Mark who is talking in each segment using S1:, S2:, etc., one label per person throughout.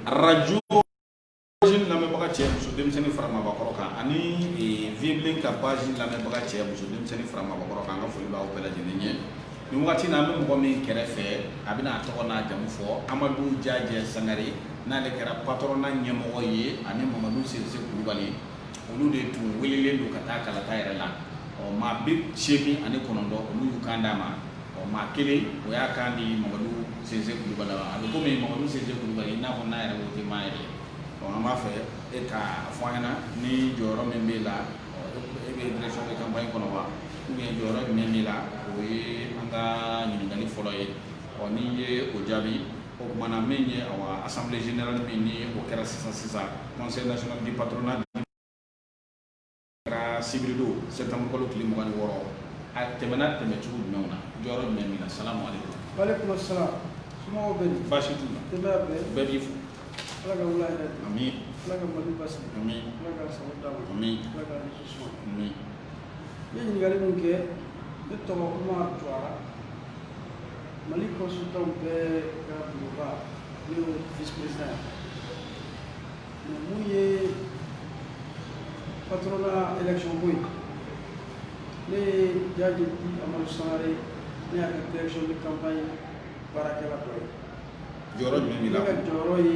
S1: arajo lamɛnbaga cɛ muso denmisɛnnin fara maabakɔrɔ kan ani eh, vieux blen ka page lamɛnbaga cɛ muso denmisɛnnin fara maabakɔrɔ kan an ka foli b'aw bɛɛ lajɛlen ye nin wagati na an bɛ mɔgɔ min kɛrɛfɛ a bɛna a tɔgɔ n'a jamu fɔ amadu jajɛ sankare n'ale kɛra patronat ɲɛmɔgɔ ye ani mamadu sinsi kulubali olu de tun welelen don ka taa kalata yɔrɔ la ɔ maa bi seegin ani kɔnɔntɔn olu y'u kan d'a ma ɔ maa kelen o y'a kan di mamadu sinsi kulubali ma a bɛ komi mamadu sinsi kulubali i n'a fɔ n'a yɛrɛ ko tɛ maa yɛrɛ ɔ an b'a fɛ e k'a fɔ an ɲɛna ni jɔyɔrɔ min b'e la ɔ e bɛ direction de campagne kɔnɔ wa ou bien jɔyɔrɔ jumɛn b'e la o ye an ka ɲininkali fɔlɔ ye ɔ n'i ye o jaabi o kumana min ye awa assemblée générale min ni o kɛra sisan sisan conseil national du patronat kɛra sibiri don septembre kalo tile mugan ni wɔɔrɔ a tɛmɛna tɛmɛ cogo jumɛnw na jɔyɔrɔ jumɛn min na salamu aleykum walekum
S2: salam somɔgɔw bɛ di baasi t'u la denbaya
S1: bɛɛ bɛɛ b'i fo ala ka
S2: wula hɛrɛ ami ala
S1: ka mali
S2: basigi ami ala ka sago
S1: d'a
S2: ma ami ala ka dusu suma ami i ye ɲininkali min kɛ ne tɔgɔ umar juwara mali consultantw bɛɛ ka bulonba ne y'o vice-président ye mais mun ye patronat élection ko ye ne ye jajɛ dit amadu sankare ne y'a ka direction de campagne baarakɛla dɔ ye jɔyɔrɔ
S1: jumɛn b'i la ne ka jɔyɔrɔ ye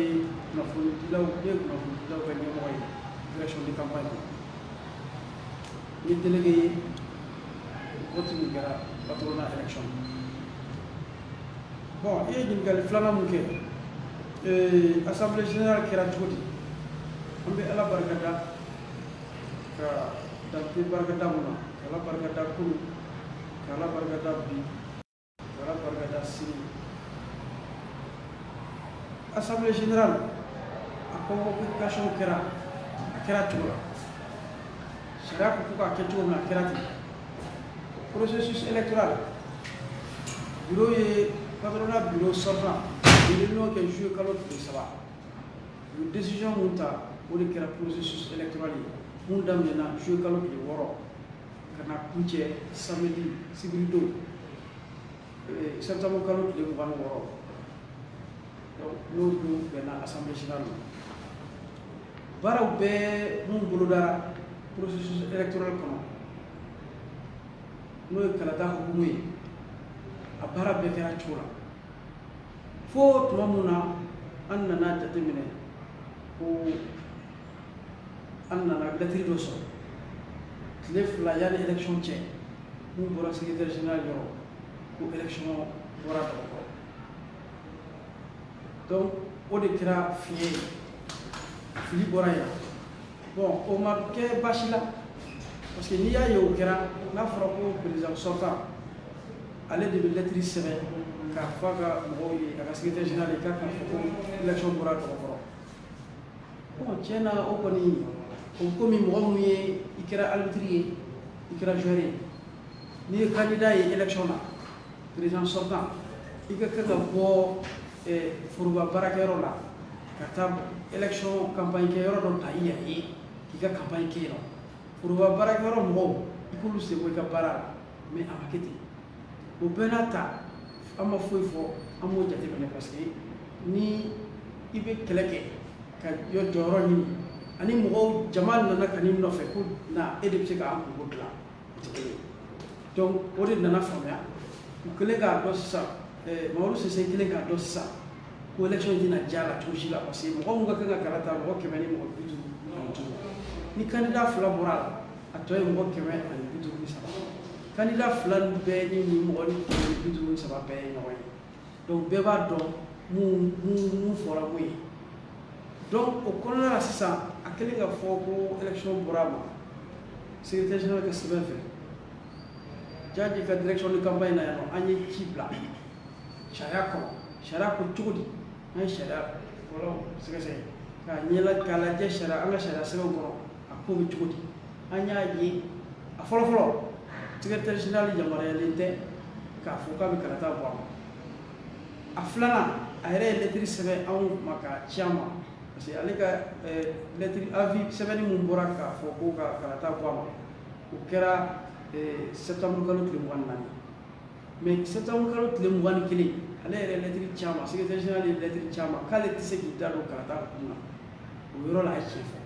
S2: kunnafonidilaw ne ye kunnafonidilaw ka ɲɛmɔgɔ ye direction de campagne kɔnɔ n ye délégué ye vote min kɛra patronat élection bon i ye ɲininkali filanan mun kɛ ee, assemblée générale kɛra cogo di an bɛ ala barika da ka dante barika da mun na ka ala barika da kunu ka ala barika da bi Assemblée générale a convocation kɛra a kɛra cogo la sariya ko k'a kɛ cogo min a kɛra ten processus électoral bureau ye patronat bureau sortant réunion kɛ juillet kalo tile saba u ye décision mun ta o de kɛra processus électoral ye mun daminɛna juillet kalo tile wɔɔrɔ ka na kuncɛ samedi sibiri don eh, septembre kalo tile mugan ni wɔɔrɔ n'o don bɛnna assemblée générale ma baaraw bɛɛ mun bolodara processus électoral kɔnɔ n'o ye kalata hukumu ye a baara bɛɛ kɛra cogo la fo tuma mun na an nana jateminɛ ko an nana lɛtiri dɔ sɔrɔ tile fila yanni élection cɛ n'o bɔra secrétaire général yɔrɔ ko élection bɔra dɔgɔkɔrɔ donc o de kɛra fiɲɛ ye fili bɔra yan bon o ma kɛ baasi la parce que n'i y'a ye o kɛra n'a fɔra ko président sortant ale de bɛ lɛtiri sɛbɛn k'a fɔ a ka mɔgɔw ye a ka secrétaire général ye k'a k'a fɔ ko élection bɔra dɔgɔkɔrɔ tiɲɛ na o kɔni o komi mɔgɔ min ye i kɛra arbitre ye i kɛra joueur ye n'i ye candidat ye élection na président sortant i ka kan ka bɔ foroba baarakɛyɔrɔ la ka taa élection campagne kɛyɔrɔ dɔ ta i yɛrɛ ye k'i ka campagne kɛ yen nɔ foroba baarakɛyɔrɔ mɔgɔw i k'olu sen bɔ i ka baara la mais a ma kɛ ten o bɛɛ n'a ta an ma foyi fɔ an b'o jateminɛ parce que ni i bɛ kɛlɛ kɛ ka yɔ jɔyɔrɔ ɲini ani mɔgɔw jama nana ka n'i nɔfɛ ko na e de bɛ se k'an kunko dilan o tɛ kelen ye donc o de nana faamuya u kɛlen k'a dɔn sisan eh, mamadu sinsi kɛlen k'a dɔn sisan ko élection in tɛna diya a la cogo si la parce que mɔgɔ min ka kan ka kala ta mɔgɔ kɛmɛ ni mɔgɔ bi duuru ani duuru ni candidat fila bɔra a la a tɔ ye mɔgɔ kɛmɛ ani bi duuru ni saba Candidat fila bɛɛ ni ni mɔgɔ kɛmɛ ni bi duuru ni saba bɛɛ ye ɲɔgɔn ye donc bɛɛ b'a dɔn minnu fɔra min ye donc o kɔnɔna la sisan a kɛlen k'a fɔ ko élection bɔra a ma secrétaire général ka sɛbɛn fɛ jaje ka direction de campagne na yan nɔ an ye ci bila sariya kɔnɔ sariya ko cogo di an ye sariya fɔlɔ sɛgɛsɛgɛ k'a ɲɛla k'a lajɛ sariya an ka sariya sɛbɛnw kɔnɔ a ko bɛ cogo di an y'a ye a fɔlɔfɔlɔ secrétaire général yamaruyalen tɛ k'a fɔ k'a bɛ kalata bɔ a ma a filanan a yɛrɛ ye lɛtiri sɛbɛn anw ma k'a ci an ma parce que ale ka lɛtiri avis sɛbɛnni min bɔra k'a fɔ ko ka kalata bɔ a ma o kɛra septembre kalo tile mugan ni naani mais septembre kalo tile mugan ni kelen ale yɛrɛ ye lɛtiri ci an ma secrétaire général ye lɛtiri ci an ma k'ale tɛ se k'i da don kalata kun na o yɔrɔ la a ye tiɲɛ fɔ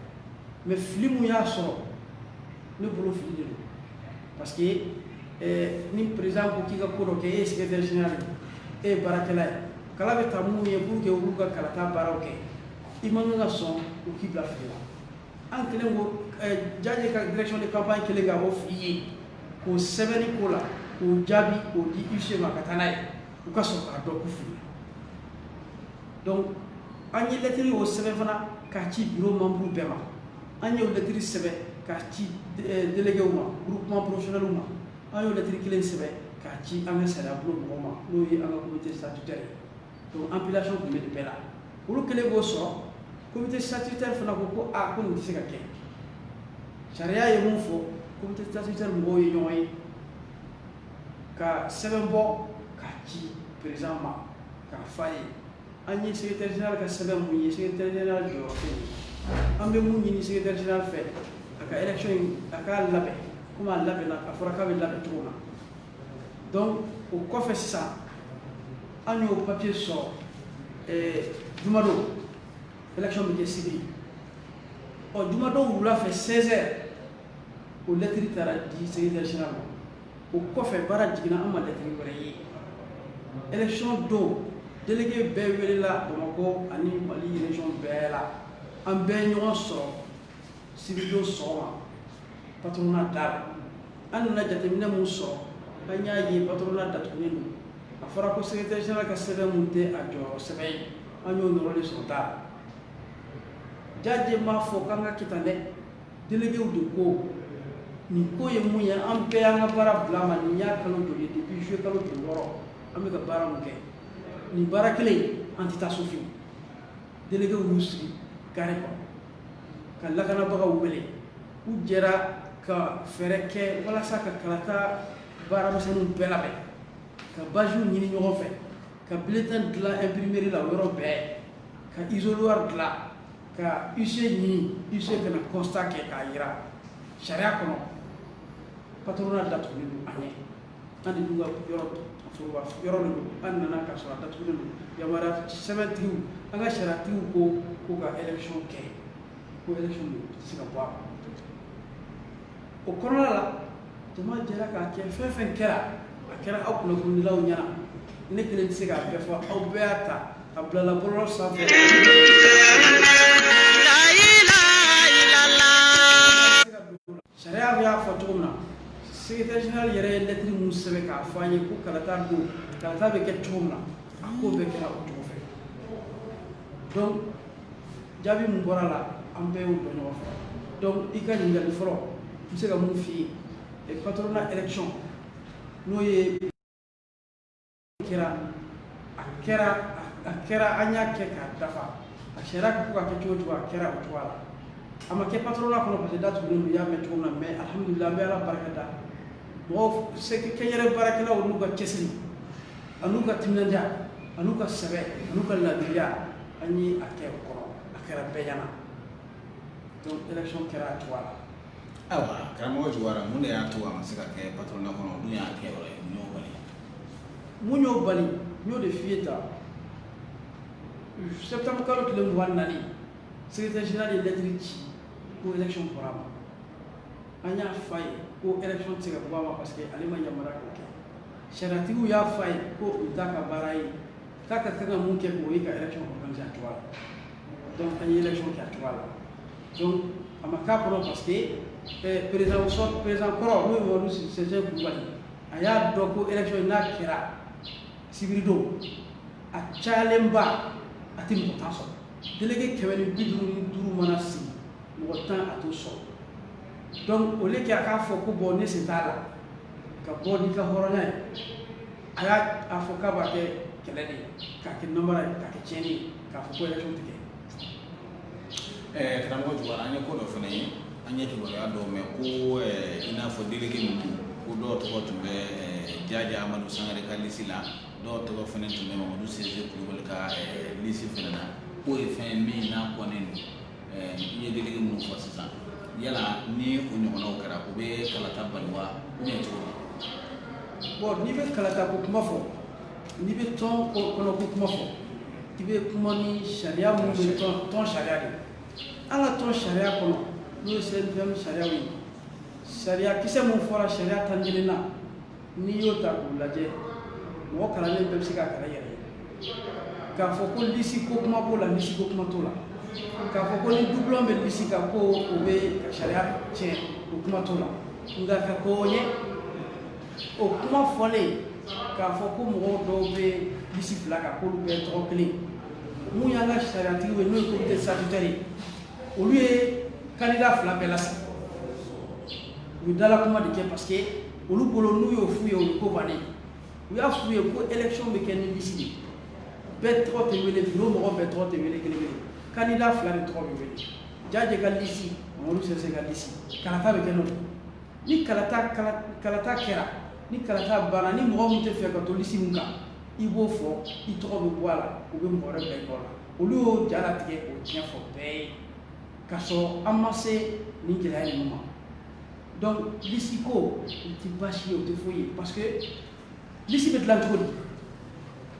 S2: mais fili mun y'a sɔrɔ ne bolo fili de don parce que eh, ni président ko k'i ka ko dɔ kɛ e ye secrétaire général e ye baarakɛla ye kala bɛ ta minnu ye pour que olu ka kalata baaraw kɛ i man kan ka sɔn u k'i bila fili la an kɛlen ko eh, jaje ka direction de campagne kɛlen ka o fili ye k'o sɛbɛnni ko la k'o jaabi k'o di huissier ma ka taa n'a ye u ka sɔrɔ k'a dɔn ko fili donc an ye lɛtiri o sɛbɛn fana k'a ci biro membre bɛɛ ma an y'o lɛtiri sɛbɛn k'a ci eh, delegew ma groupement professionnelw ma an y'o lɛtiri kelen sɛbɛn k'a ci an ka sariyabulon mɔgɔw ma n'o ye an ka comité statutaire ye donc ampliation tun bɛ nin bɛɛ la olu kɛlen k'o sɔrɔ comité statutaire fana ko ko a ko nin tɛ se ka kɛ sariya ye mun fɔ comité statutaire mɔgɔw ye ɲɔgɔn ye ka sɛbɛn bɔ k'a ci président ma k'a f'a ye an ye secrétaire général ka sɛbɛn mun ye secrétaire général jɔyɔrɔ tɛ yen an bɛ mun ɲini secrétaire général fɛ a ka élection in a k'a labɛn komi a labɛnna a fɔra k'a bɛ labɛn cogo min na donc o kɔfɛ sisan an y'o papier sɔrɔ eh, jumadon élection bɛ kɛ sibiri ɔ jumadon wula fɛ 16 heures o lɛtiri taara di secrétaire général ma o kɔfɛ baara jiginna an ma lɛtiri wɛrɛ ye élection don délégué bɛɛ welela bamakɔ ani mali région bɛɛ la an bɛɛ ɲɔgɔn sɔrɔ sibiridon sɔgɔma patronat da la an nana jateminɛ mun sɔrɔ an y'a ye patronat datugulen don a fɔra ko secrétaire général ka sɛbɛn mun tɛ a jɔyɔrɔ sɛbɛn ye an y'o nɔrɔlen sɔrɔ da la jaje m'a fɔ k'an ka kɛ tan dɛ déléguéw de ko nin ko ye mun ye an bɛɛ y'an ka baara bila ma nin y'a kalo joli ye depuis juillet kalo joli wɔɔrɔ an bɛ ka baara mun kɛ nin baara kelen an tɛ taa so fiyewu déléguéw y'u sigi kare kɔnɔ ka lakanabagaw wele u jɛra ka fɛɛrɛ kɛ walasa ka kalata baaramisɛnninw bɛɛ labɛn ka badgew ɲini ɲɔgɔn fɛ ka bulletin dilan imprimerie la yɔrɔ bɛɛ ka isoloir dilan ka huissier ɲini huissier ka na constat kɛ k'a jira sariya kɔnɔ patronat datugulen don a ɲɛ An de ka yɔrɔ foroba yɔrɔ don an nana k'a sɔrɔ a datugulen don yamaruya sɛbɛntigiw an ka sariyatigiw ko ko ka élection kɛ ko élection tɛ se ka bɔ a o kɔnɔna la jama jɛra k'a kɛ fɛn fɛn kɛra a kɛra aw kunnafonidilaw ɲɛna ne kelen tɛ se k'a bɛɛ fɔ aw bɛɛ y'a ta a bilala bɔlɔlɔ sanfɛ Sariya bɛ y'a fɔ cogo min na secrétaire général yɛrɛ ye lɛtiri mun sɛbɛn k'a fɔ an ye ko kalata don kalata bɛ kɛ cogo min na a ko bɛɛ kɛra o cogo fɛ donc jaabi min bɔra a la an bɛɛ y'o dɔn ɲɔgɔn fɛ donc i ka ɲininkali fɔlɔ n bɛ se ka mun f'i ye patronat élection n'o ye kɛra a kɛra a kɛra an y'a kɛ k'a dafa a sariya ko ka kɛ cogo o cogo a kɛra o cogoya la a ma kɛ patronat kɔnɔ parce que datugulen don i y'a mɛn cogo min na mais alihamudulila an bɛ ala barika da mɔgɔw kɛnyɛrɛ baarakɛlaw n'u ka cɛsiri an'u ka timinadiya an'u ka sɛbɛ an'u ka laadiriya an ye a kɛ o kɔnɔ a kɛra bɛɛ ɲɛna donc élection kɛra a cogoya la
S1: Ayiwa karamɔgɔ Juwara mun de y'a to a ma se ka kɛ patronat kɔnɔ min y'a kɛ yɔrɔ ye mun y'o bali mun y'o bali n y'o de f'i
S2: ye tan septembre kalo tile mugan ni naani secrétaire général ye lɛtiri ci ko élection bɔra a ma an y'a f'a ye ko élection tɛ se ka bɔ a ma parce que ale ma yamaruya k'o kɛ sariyatigiw y'a f'a ye ko o t'a ka baara ye k'a ka kan ka mun kɛ k'o ye ka élection organiser a cogoya la donc an ye élection kɛ a cogoya la donc a ma k'a kɔnɔ parce que président sortant président kɔrɔ n'o ye Mamadu Sinsi Kulubali a y'a dɔn ko élection n'a kɛra sibiridon a cayalenba a tɛ mɔgɔ tan sɔrɔ délégué kɛmɛ ni bi duuru ni duuru mana sigi mɔgɔ tan a t'o sɔrɔ donc au lieu que a k'a fɔ ko bon ne sen t'a la ka bɔ n'i ka hɔrɔnya ye a y'a fɔ k'a b'a kɛ kɛlɛ de ye k'a kɛ nanbara ye k'a kɛ tiɲɛni ye k'a fɔ ko élection tɛ kɛ ɛɛ karamɔgɔ Juwara an ye ko dɔ fana
S1: ye an ye kibaruya dɔw mɛn ko i n'a fɔ délégué ninnu ko dɔw tɔgɔ tun bɛ Jaje Amadu Sankare ka lisi la dɔw tɔgɔ fana tun bɛ Mamadu Sinsi Kulubali ka lisi fana na k'o ye fɛn ye min n'a kɔnnen don i ye dalilu minnu fɔ sisan yala ni o ɲɔgɔnnaw kɛra u bɛ kalata bali wa ou bien cogo di bon
S2: n'i bɛ kalata ko kuma fɔ n'i bɛ tɔn kɔnɔ ko kuma fɔ i bɛ kuma ni sariya minnu bɛ tɔn sariya de an ka tɔn sariya kɔnɔ n'o ye CNPM sariyaw ye sariya kisɛ minnu fɔra sariya tan ni kelen na n'i y'o ta k'u lajɛ mɔgɔ kalannen bɛɛ bɛ se k'a kalan yɛrɛ ye k'a fɔ ko lisi ko kuma b'o la lisi ko kuma t'o la k'a fɔ ko ni doublon bɛ lisi kan ko o bɛ sariya tiɲɛ o kuma t'o la nka ka ko ye o kuma fɔlen k'a fɔ ko mɔgɔ dɔw bɛ lisi fila kan k'olu bɛɛ tɔgɔ kelen min y'an ka sariyatigi ye n'o ye comité statutaire ye olu ye kandida fila bɛɛ lasigi u ye dalakuma de kɛ parce que olu bolo n'u y'o f'u ye o ye ko bannen u y'a f'u ye ko élection bɛ kɛ ni lisi de ye bɛɛ tɔgɔ tɛ wele bureau mɔgɔ bɛɛ tɔgɔ tɛ wele kelen kelen kandida fila de tɔgɔ bɛ wele Jaje ka lisi Mamadu Sinsi ka lisi kalata bɛ kɛ n'o ni kalata kɛra ni kalata banna ni mɔgɔ min tɛ fɛ ka to lisi min kan i b'o fɔ i tɔgɔ bɛ bɔ a la u bɛ mɔgɔ wɛrɛ bila i kɔ la olu y'o jalatigɛ k'o tiɲɛ fɔ bɛɛ ye k'a sɔrɔ an ma se nin gɛlɛya ninnu ma donc lisi ko o tɛ baasi ye o tɛ foyi ye parce que lisi bɛ dilan cogo di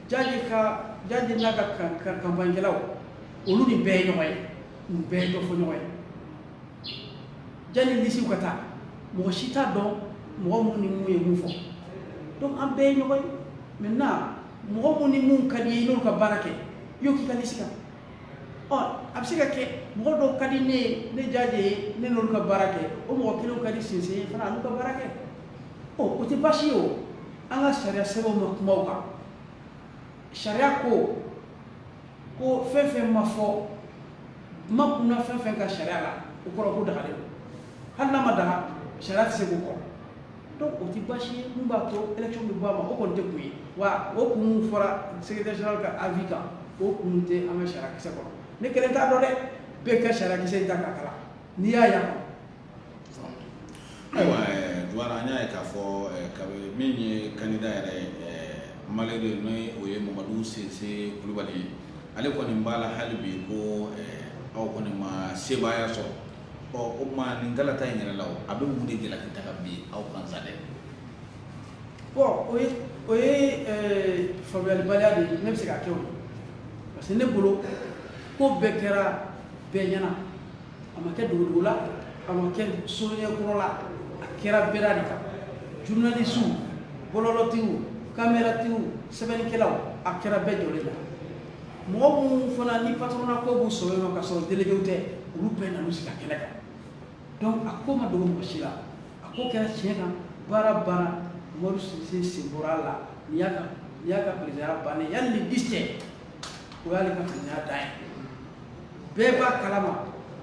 S2: Jaje ka Jaje n'a ka kanpaɲikɛlaw olu ni bɛɛ ye ɲɔgɔn ye u bɛɛ ye dɔ fɔ ɲɔgɔn ye jani lisiw ka taa mɔgɔ si t'a dɔn mɔgɔ minnu ni minnu ye mun fɔ donc an bɛɛ ye ɲɔgɔn ye maintenant mɔgɔ minnu ni minnu ka di i ye i n'olu ka baara kɛ i y'o k'i ka lisi kan ɔ a bɛ se ka kɛ mɔgɔ dɔw ka di ne ye ne jaje ye ne n'olu ka baara kɛ o mɔgɔ kelenw ka di sinsin ye fana a n'u ka baara kɛ ɔ o tɛ baasi ye o an ka sariya sɛbɛnw ma kuma o kan sariya ko ko fɛn fɛn ma fɔ ma kunna fɛn fɛn ka sariya la o kɔrɔ ko dagalen don hali n'a ma daga sariya tɛ se k'o kɔn donc o ti baasi ye mun b'a to élection bɛ bɔ a ma o kɔni tɛ kun ye wa o kun min fɔra secrétaire général ka avis kan o kun tɛ an ka sariya kisɛ kɔnɔ ne kelen t'a dɔn dɛ bɛɛ ka sariya kisɛ in ta k'a kalan n'i y'a yan
S1: ayiwa duwara an y'a ye k'a fɔ kabe min ye candidat yɛrɛ malheureux n'o ye o ye mamadu sinsin kulubali ye ale kɔni b'a la hali bi ko aw kɔni ma sebaaya sɔrɔ ɔ o tuma nin kalata in yɛrɛ la o a bɛ mun de jalaki ta ka bin aw kan sa
S2: dɛ bon o ye o ye eh, faamuyalibaliya de ye ne bɛ se k'a kɛ o ye parce que ne bolo ko bɛɛ kɛra bɛɛ ɲɛna a ma kɛ dogodogo la a ma kɛ sonyɛ kɔrɔ la a kɛra bɛda de kan journalisiw bɔlɔlɔtigiw kameratigiw sɛbɛnnikɛlaw a kɛra bɛɛ jɔlen la mɔgɔ minnu fana ni patɔrɔnna ko b'u sɔrɔ yen ka sɔrɔ delegew tɛ olu bɛɛ nan'u sigi a kɛnɛ kan donc a ko ma dogo mɔgɔ si la a ko kɛra tiɲɛ kan baara banna madu sinsin sen bɔra a la ni y'a ka ni y'a ka perezidaya bannen yanni le dix cɛ o y'ale ka perezidaya dan ye bɛɛ b'a kalama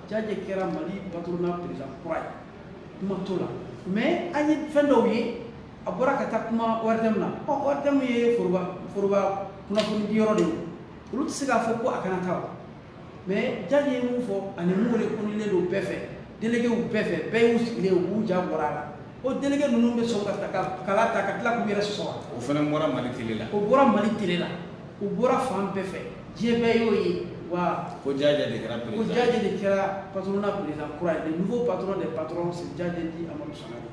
S2: jaje kɛra mali patɔrɔnna perezida kura ye kuma t'o la mais an ye fɛn dɔw ye a bɔra ka taa kuma ORTM na ORTM ye foroba foroba kunnafoni di yɔrɔ de ye olu tɛ se k'a fɔ ko a kana taa mais jaje ye mun fɔ ani mun reconnulen don bɛɛ fɛ delegew bɛɛ fɛ bɛɛ y'u sigilen u bɛɛ ja bɔra a la o delege ninnu bɛ sɔn ka ta ka kala ta ka tila k'u yɛrɛ sɔsɔ o fana bɔra
S1: mali tele la o bɔra mali tele
S2: la u bɔra fan bɛɛ fɛ diɲɛ bɛɛ y'o ye wa ko jaje de kɛra
S1: ko jaje de kɛra
S2: patronat président kura ye le nouveau patron des patrons c'est jaje dit amadu sangare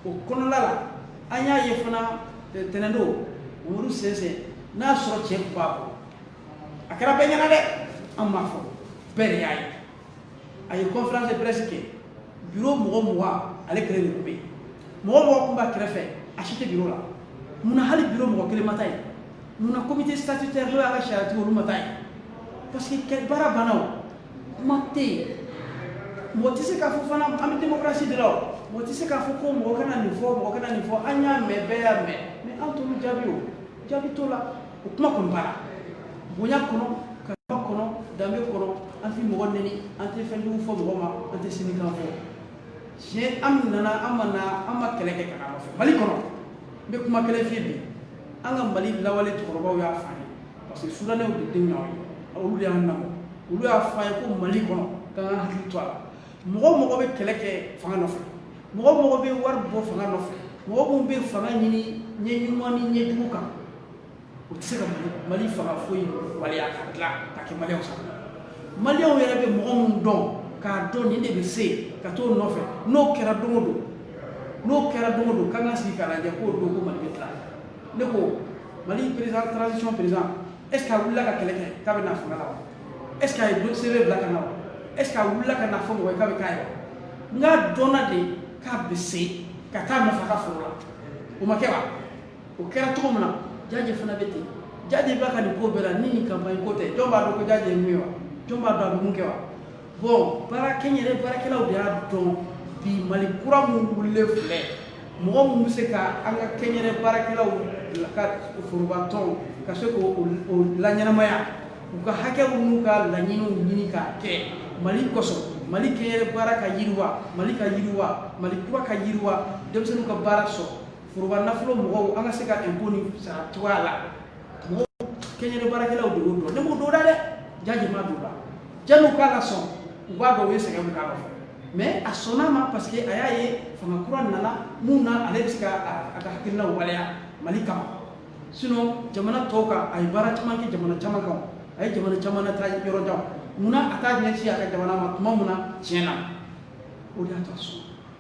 S2: o kɔnɔna la an y'a ye fana eh, tɛnɛndon mamadu sinsin n'a sɔrɔ tiɲɛ tun b'a bolo a kɛra bɛɛ ɲɛna dɛ an m'a fɔ bɛɛ de y'a ye a ye conférence de presse kɛ bureau mɔgɔ mugan ale kelen de tun bɛ yen mɔgɔ mɔgɔ tun b'a kɛrɛfɛ a si tɛ bureau la munna hali bureau mɔgɔ kelen ma taa yen munna comité statutaire n'o y'a ka sariyatigi olu ma taa yen parce que baara banna o kuma tɛ yen mɔgɔ tɛ se k'a fɔ fana an bɛ démocratie de la o mɔgɔ tɛ se k'a fɔ ko mɔgɔ kana nin fɔ mɔgɔ kana nin fɔ an y'a mɛn bɛɛ y'a mɛn mais an t'olu jaabi o jaabi t'o la o kuma kɔni banna bonya kɔnɔ karama kɔnɔ danbe kɔnɔ an tɛ mɔgɔ nɛni an tɛ fɛn jugu fɔ mɔgɔ ma an tɛ sinikan fɔ tiɲɛ an nana an ma na an ma kɛlɛ kɛ ka an fɛ mali kɔnɔ n bɛ kuma kelen f'i ye bi an ka mali lawale cɛkɔrɔbaw y'a fɔ an ye parce que sudanɛw de denw y'an ye olu de y'an lamɔ olu y'a fɔ an ye ko mali kɔnɔ k'an ka hakili to a la mɔgɔ min bɛ kɛlɛ kɛ fanga nɔfɛ mɔgɔ min bɛ wari bɔ fanga nɔfɛ mɔgɔ minnu bɛ fanga ɲini ɲɛ ɲuman ni ɲɛ jugu kan o tɛ se ka mali fanga foyi waleya ka dilan ka kɛ maliyɛnw sago maliyɛnw yɛrɛ bɛ mɔgɔ minnu dɔn k'a dɔn nin de bɛ se ka t'o nɔfɛ n'o kɛra don o don n'o kɛra don o don k'an ka sigi k'a lajɛ k'o don ko mali bɛ dilan ne ko mali président transition président est ce que a wulila ka kɛlɛ kɛ k'a bɛ na fanga la wa est ce que a ye CV bila ka na wa est ce que a wulila ka na fɔ mɔgɔ ye k'a bɛ k'a ye wa nka a dɔnna de k'a bɛ se ka taa nafa ka foro la o ma kɛ wa o kɛra cogo min na jaje fana bɛ ten jaje b'a ka nin ko bɛɛ la ni nin campagne ko tɛ jɔn b'a dɔn ko jaje ye mun ye wa jɔn b'a dɔn a bɛ mun kɛ wa bon baara kɛnyɛrɛ baarakɛlaw de y'a dɔn bi mali kura min wulilen filɛ mɔgɔ min bɛ se ka an ka kɛnyɛrɛ baarakɛlaw ka forobatɔn ka se k'o laɲɛnamaya u ka hakɛw n'u ka laɲiniw ɲini k'a kɛ mali kosɔn mali kɛnyɛrɛ baara ka yiriwa mali ka yiriwa mali kura ka yiriwa denmisɛnninw ka baara sɔrɔ foroba nafolo mɔgɔw an ka se ka impôt nin sara cogoya la mɔgɔ kɛnyɛrɛ baarakɛlaw de y'o dɔn ne m'o dɔn da dɛ jaje madonna yanni u k'a lasɔn u b'a dɔn u ye sɛgɛn min k'a la mais a sɔnna a ma parce que a y'a ye fanga kura nana mun na ale bɛ se ka a ka hakilinaw waleya mali kama sinon jamana tɔw kan a ye baara caman kɛ jamana caman kan a ye jamana caman lataa yɔrɔ jan munna a t'a ɲɛsin a ka jamana ma tuma mun na tiɲɛ na o de y'a to a sɔnna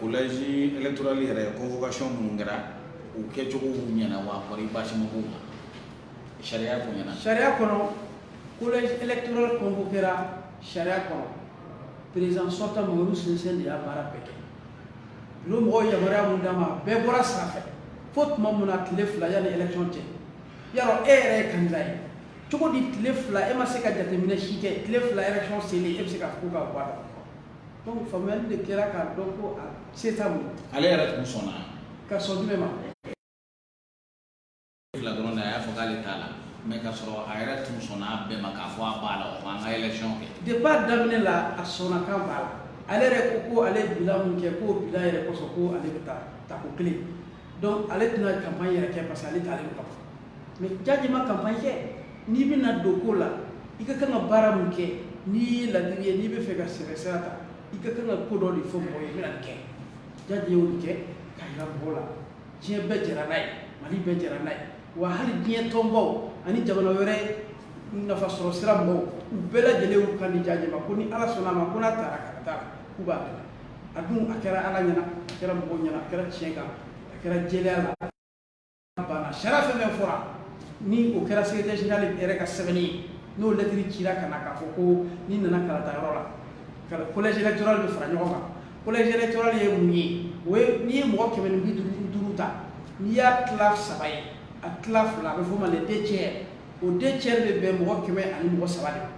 S1: kolɛji eturali yɛrɛ kɔnfɔkasi minnu kɛra u kɛcogo ɲɛna wa basi sariya kɔnɔ sariya kɔnɔ
S2: kotura kɔnfɔ kɛra sariya kɔnɔ perezsɔ sinsɛn de y'a baara bɛɛ kɛ u mɔgɔ yamaruya min d'a ma bɛɛ bɔra sanfɛ fo tuma min na tile fila yan ni yɛlɛ cɛ ya e yɛrɛ ye kanda ye cogo di tile fila e ma se ka jateminɛ si kɛ tile fila yɛrɛ seli e bɛ se ka' ka Donc faamuyali de kɛra k'a dɔn ko a se t'a bolo. Ale yɛrɛ tun
S1: sɔnna. Ka sɔn nin bɛɛ ma. fila dɔrɔn de a y'a fɔ k'ale t'a la mais ka sɔrɔ a yɛrɛ tun sɔnna a bɛɛ ma k'a fɔ a b'a la o tuma an ka élection kɛ. Depuis a daminɛ
S2: la a sɔnna k'a b'a la ale yɛrɛ ko ko ale ye bilan min kɛ k'o bilan yɛrɛ kosɔn ko ale bɛ taa tako kelen donc ale tɛna campagne yɛrɛ kɛ parce que ale taalen don ka ban. mais jaje ma campagne kɛ n'i bɛna don ko la i ka kan ka baara min kɛ n'i ye ladiri ye n'i bɛ fɛ ka sɛbɛ sira ta i ka kan ka ko dɔ de fɔ mɔgɔw ye i bɛna nin kɛ jaje y'o kɛ k'a jira mɔgɔw la diɲɛ bɛɛ jɛra n'a ye mali bɛɛ jɛra n'a ye wa hali diɲɛ tɔnbaw ani jamana wɛrɛ nafa sɔrɔ sira mɔgɔw u bɛɛ lajɛlen y'u kan di jaje ma ko ni ala sɔnna a ma ko n'a taara ka taa k'u b'a dɛmɛ a dun a kɛra ala ɲɛna a kɛra mɔgɔw ɲɛna a kɛra tiɲɛ kan a kɛra jɛya la banna sariya fɛn fɛn fɔra ni o kɛra secrétaire général yɛrɛ ka sɛbɛnni ye n'o lɛtiri cira ka na k'a fɔ ko n'i nana kalata yɔrɔ la collège électoral bɛ fara ɲɔgɔn kan collège électoral ye mun ye o ye n'i ye mɔgɔ kɛmɛ ni bi duuru duuru ta n'i y'a tila saba ye a tila fila a bɛ f'o ma les deux tiers o deux tiers bɛ bɛn mɔgɔ kɛmɛ ani mɔgɔ saba de ma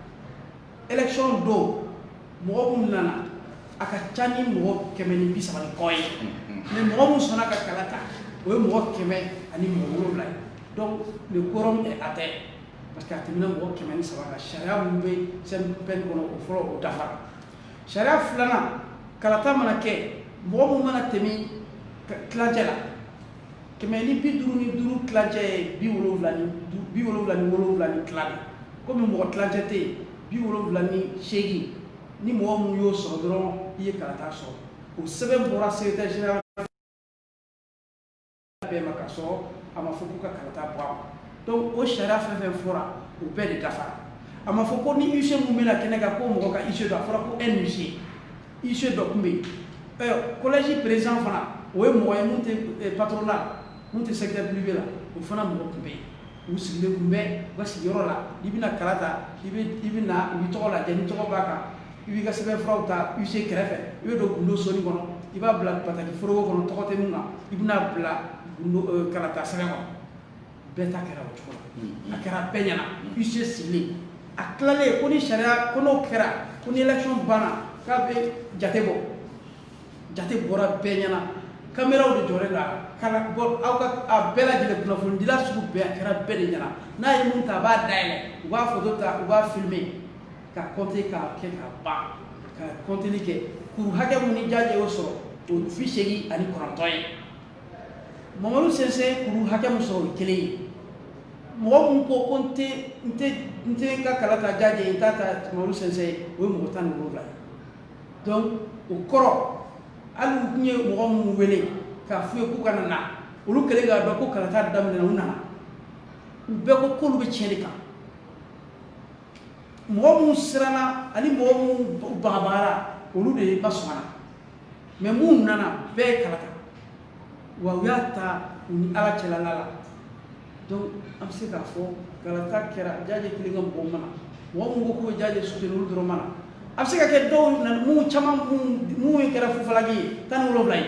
S2: élection don mɔgɔ minnu nana a ka ca ni mɔgɔ kɛmɛ ni bi saba ni kɔ ye mais mɔgɔ minnu sɔnna ka kala ta o ye mɔgɔ kɛmɛ ani mɔgɔ wolonwula ye donc le quorum est atteint parce que a tɛmɛna mɔgɔ kɛmɛ ni saba kan sariya minnu bɛ CNPM kɔnɔ o fɔlɔ o dafara sariya filanan kalata mana kɛ mɔgɔ mun mana tɛmɛ tilancɛ la kɛmɛ ni bi duuru ni duuru tilancɛ ye bi wolonwula ni bi wolonwula ni wolonwula ni tila de komi mɔgɔ tilancɛ tɛ yen bi wolonwula ni seegin ni mɔgɔ mun y'o sɔrɔ dɔrɔn i ye kalata sɔrɔ o sɛbɛn bɔra secrétaire général bɛɛ ma ka sɔrɔ a ma fɔ k'u ka kalata bɔ a ma donc o sariya fɛn fɛn fɔra o bɛɛ de dafara a ma fɔ ko ni huissier mun bɛna kɛnɛ kan ko mɔgɔ ka huissier don a fɔra ko un huissier huissier dɔ tun bɛ yen collège président fana o ye mɔgɔ ye minnu tɛ patronat la minnu tɛ secteur privé la o fana mɔgɔ tun bɛ yen u sigilen tun bɛ u ka sigiyɔrɔ la i bɛna kala ta i bɛ i bɛ na u b'i tɔgɔ lajɛ n'i tɔgɔ b'a kan i b'i ka sɛbɛnfuraw ta huissier kɛrɛfɛ i bɛ don gundo soni kɔnɔ i b'a bila bataki foroko kɔnɔ tɔgɔ tɛ mun kan i bɛ n'a bila kalata sɛbɛn kɔnɔ bɛɛ ta kɛra o cogo la mm-hmm. a kɛra bɛɛ ɲɛna mm-hmm. huissier sigilen a tilalen ko ni sariya ko n'o kɛra ko ni élection banna k'a bɛ jate bɔ jate bɔra bɛɛ ɲɛna kameraw de jɔlen don a kan ka bɔ aw ka a bɛɛ lajɛlen kunnafonidila sugu bɛɛ a kɛra bɛɛ de ɲɛna n'a ye mun ta a b'a dayɛlɛ u b'a foto ta u b'a filime ka kɔnte k'a kɛ k'a ban ka kɔnteli kɛ kuru hakɛ mun ni Diadié y'o sɔrɔ o bi seegin ani kɔnɔntɔn ye Mamadou Sinsy kuru hakɛ min sɔrɔ o ye kelen ye, mɔgɔ min ko ko n tɛ n tɛ n tɛ n ka kala ta Diadié n t'a ta Mamadou Sinsy ye, o ye mɔgɔ 17 ye donc o kɔrɔ hali u tun ye mɔgɔ minnu wele k'a f'u ye k'u kana na, olu kɛlen k'a dɔn ko kalata daminɛna u nana, u bɛɛ ko k'olu bɛ tiɲɛ de kan, mɔgɔ minnu siranna ani mɔgɔ minnu bagabagara olu de ma sɔn a la mais minnu nana bɛɛ ye kala ta wa u y'a ta u ni ala cɛla la donc an bɛ se k'a fɔ kalata kɛra Diadié kelen ka mɔgɔw ma na mɔgɔ minnu ko k'u bɛ Diadié soutenir olu dɔrɔn ma na a bɛ se ka kɛ dɔw minnu caman minnu ye kɛra fufalaki ye tan ni wolonwula ye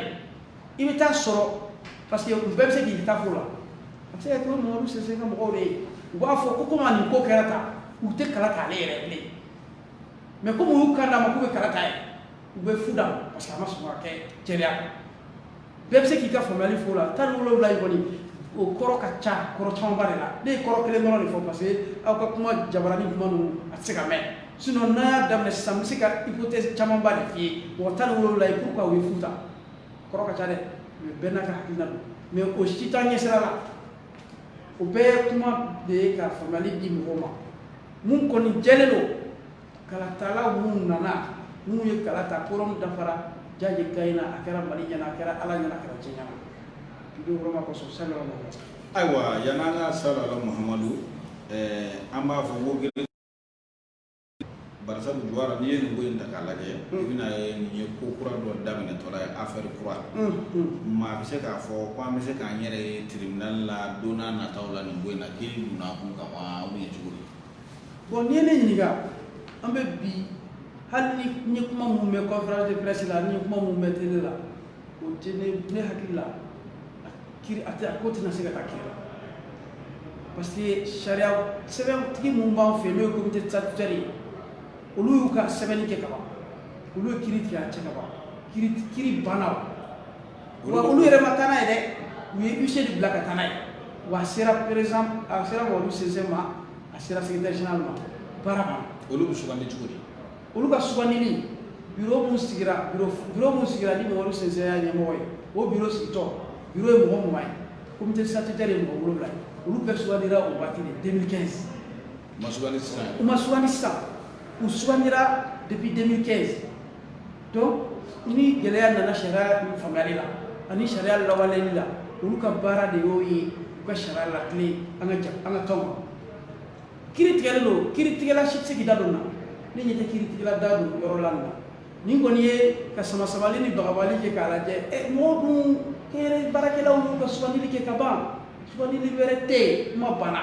S2: i bɛ t'a sɔrɔ parce que u bɛɛ bɛ se k'i ta fɔ a la a bɛ se ka kɛ Mamadou Sinsy ka mɔgɔw de ye u b'a fɔ ko komi nin ko kɛra tan u tɛ kala ta ale yɛrɛ bilen mais comme u y'u kan d'a ma k'u bɛ kala ta ye u bɛ fu d'a ma parce que a ma sɔn ka kɛ jɛlenya kan bɛɛ bɛ se k'i ka faamuyali f'o la tan ni wolowula in kɔni o kɔrɔ ka ca kɔrɔ camanba de la ne ye kɔrɔ kelen dɔrɔn de fɔ parce que aw ka kuma jabarani kuma ninnu a tɛ se ka mɛn sinon n'an y'a daminɛ sisan n bɛ se ka hypothèse camanba de f'i ye mɔgɔ tan ni wolowula ye pourquoi u ye fu ta kɔrɔ ka ca dɛ mais bɛɛ n'a ka hakilina don mais o si t'an ɲɛsira la o bɛɛ ye kuma de ye ka faamuyali di mɔgɔw ma mun kɔni jɛlen don kalatala minnu nana minnu ye kala ta quorum dafara jaajɛ gagne na a kɛra mali ɲɛna a kɛra ala ɲɛna a kɛra diɲɛ ɲɛna i bɛ yɔrɔma kɔsɔn salala mahamadu ayiwa yan an ka
S1: salala mahamadu an b'a fɔ ko gɛlɛn barisabu jawara n'i ye nin ko in ta k'a lajɛ i bɛn'a ye nin ye ko kura dɔ daminɛtɔla ye affaire kura maa bɛ se k'a fɔ ko an bɛ se k'an yɛrɛ ye tribunal la don nataw la nin ko in na k'i donna kun kan Aa u ye cogo di bon n'i
S2: ye ne ɲininka an bɛ bi hali n'i ye kuma minnu mɛn conférence de presse la n'i ye kuma minnu mɛn télé la o tɛ ne ne hakili la a kiri a tɛ a ko tɛna se ka taa kiri la parce que sariya sɛbɛntigi minnu b'an fɛ n'o ye comité statutaire ye olu y'u ka sɛbɛnni kɛ ka ban olu ye kiri tigɛ a cɛ ka ban kiri kiri banna wa olu yɛrɛ ma taa n'a ye dɛ u ye huissier de bila ka taa n'a ye wa a sera président a sera madu sinsi ma a sera secrétaire général ma baara banna olu bɛ sugandi cogo
S1: di olu ka sugandili
S2: bureau mun sigira bureau bureau mun sigira ni madu sinsi y'a ɲɛmɔgɔ ye o bureau sigitɔ bureau ye mɔgɔ mugan ye comité statutaire ye mɔgɔ wolonwula ye olu bɛɛ sugandira o waati de 2015 u ma sugandi
S1: sisan u ma sugandi sisan
S2: u sugandira depuis 2015 donc ni gɛlɛya nana sariya faamuyali la ani sariya lawaleli la olu ka baara de y'o ye u ka sariya latilen an ka an ka kanw ma kiri tigɛlen don kiritigɛla si tɛ se k'i da don na ne ɲɛ tɛ kiritigɛla da don yɔrɔ la nin na nin kɔni ye ka sama samali ni bagabali kɛ k'a lajɛ ɛ eh, mɔgɔw dun kɛnyɛrɛ baarakɛlaw y'u ka sugandili kɛ ka ban sugandili wɛrɛ tɛ yen kuma banna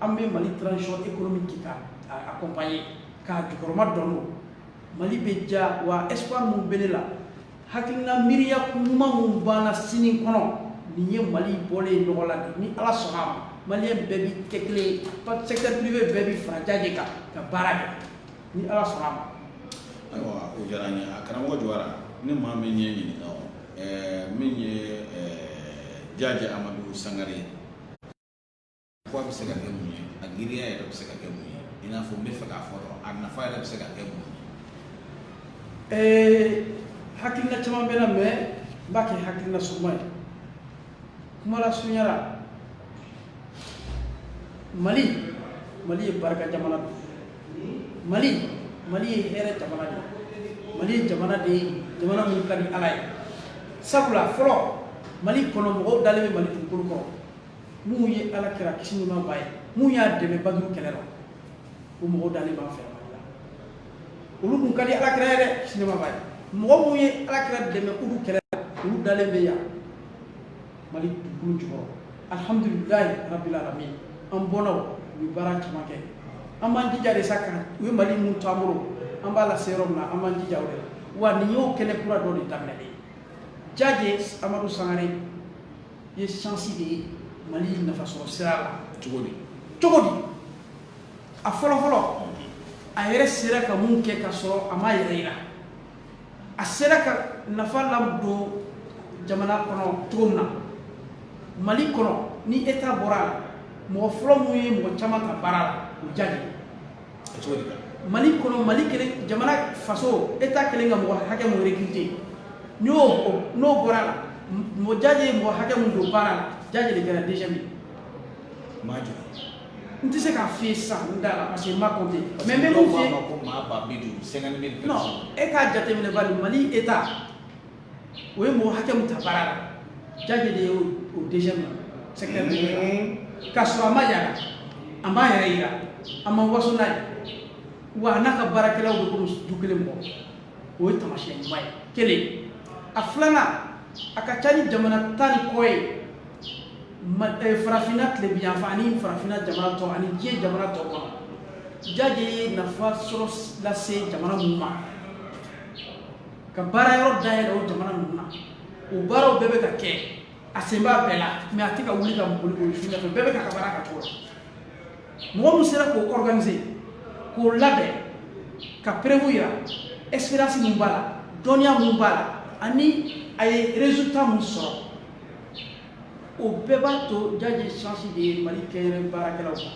S2: an bɛ mali transition économique kɛ k'a accompagner k'a jukɔrɔmadondon mali bɛ diya wa espoir min bɛ ne la hakilina miiriya ɲuman min b'an na sini kɔnɔ nin ye mali bɔlen ye nɔgɔ la de ni ala sɔnna a ma maliyɛn bɛɛ bi kɛ kelen ye secteur privé bɛɛ bi fara jaajɛ kan ka baara kɛ ni ala sɔnna a ma
S1: ayiwa o diyara n ye a karamɔgɔ jawara ni maa min y'i ɲininka o ɛɛ min ye ɛɛ jaajɛ amadu sangare ye Ko a bɛ se ka kɛ mun ye a giriya yɛrɛ bɛ se ka kɛ mun ye i n'a fɔ n bɛ fɛ k'a fɔ dɔrɔn a nafa yɛrɛ bɛ se ka kɛ mun ye. Ee hakilina caman
S2: bɛ n na mais n b'a kɛ hakilina surunman ye kuma lasurunya la Mali Mali ye barika jamana don Mali Mali ye hɛrɛ jamana de ye Mali ye jamana de ye jamana min ka di Ala ye sabula fɔlɔ Mali kɔnɔ mɔgɔw dalen bɛ Mali dugukolo kɔrɔ minnu ye ala kira kisi ni nɛɛma b'a ye minnu y'a dɛmɛ baduru kɛlɛ la o mɔgɔw dalen b'an fɛ mali la olu kun ka di ala kira ye dɛ kisi ni nɛɛma b'a ye mɔgɔ minnu ye ala kira dɛmɛ k'olu kɛlɛ la olu dalen bɛ yan mali dugukolo jukɔrɔ alhamdulilayi rabbil alamin an bɔnnaw u ye baara caman kɛ an b'an jija de sa ka u ye mali min to an bolo an b'a lase yɔrɔ min na an b'an jija o de la wa nin y'o kɛnɛ kura dɔ de daminɛlen ye jaje amadu sangare ye chance de ye mali nafasɔrɔ sira la cogo
S1: di cogo di a
S2: fɔlɔfɔlɔ a yɛrɛ sera ka min kɛ ka sɔrɔ a m'a yɛrɛ yira a sera ka nafa ladon jamana kɔnɔ cogo min na mali kɔnɔ ni eta bɔra a la mɔgɔ fɔlɔ min ye mɔgɔ caman ta baara la o jaje mali kɔnɔ mali kelen jamana faso eta kelen ka mɔgɔ hakɛ min rekirite n'o n'o bɔra a la mɔgɔ jaje ye mɔgɔ hakɛ min don baara la jaje de kɛra deuxième ye maa jɔ n tɛ se k'a f'i ye sisan n da la parce que n m'a compté mais n bɛ min f'i ye non e k'a jateminɛ bari mali eta o ye mɔgɔ hakɛ min ta baara la jaje de ye o deuxième la secteur de la ka sɔrɔ a ma yara a m'a yɛrɛ yira a ma waso n'a ye wa a n'a ka baarakɛlaw bɛ komi du kelen mɔgɔ o ye taamasiyɛn ɲuman ye kelen a filanan a ka ca ni jamana tan ni kɔ ye eh, farafinna tilebinyanfan ani farafinna jamana tɔ ani diɲɛ jamana tɔ kɔnɔ jaje ye nafa sɔrɔ lase jamana minnu ma ka baara yɔrɔ dayɛlɛ o jamana ninnu na o baaraw bɛɛ bɛ ka kɛ a sen b'a bɛɛ la mais a tɛ ka wuli ka boli boli fɛn fɛn bɛɛ bɛ k'a ka baara kɛ cogo la mɔgɔ min sera k'o organiser k'o labɛn ka preuve yira expérience min b'a la dɔnniya min b'a la ani a ye résultat min sɔrɔ o bɛɛ b'a to jaje chance de ye mali kɛnyɛrɛ baarakɛlaw ma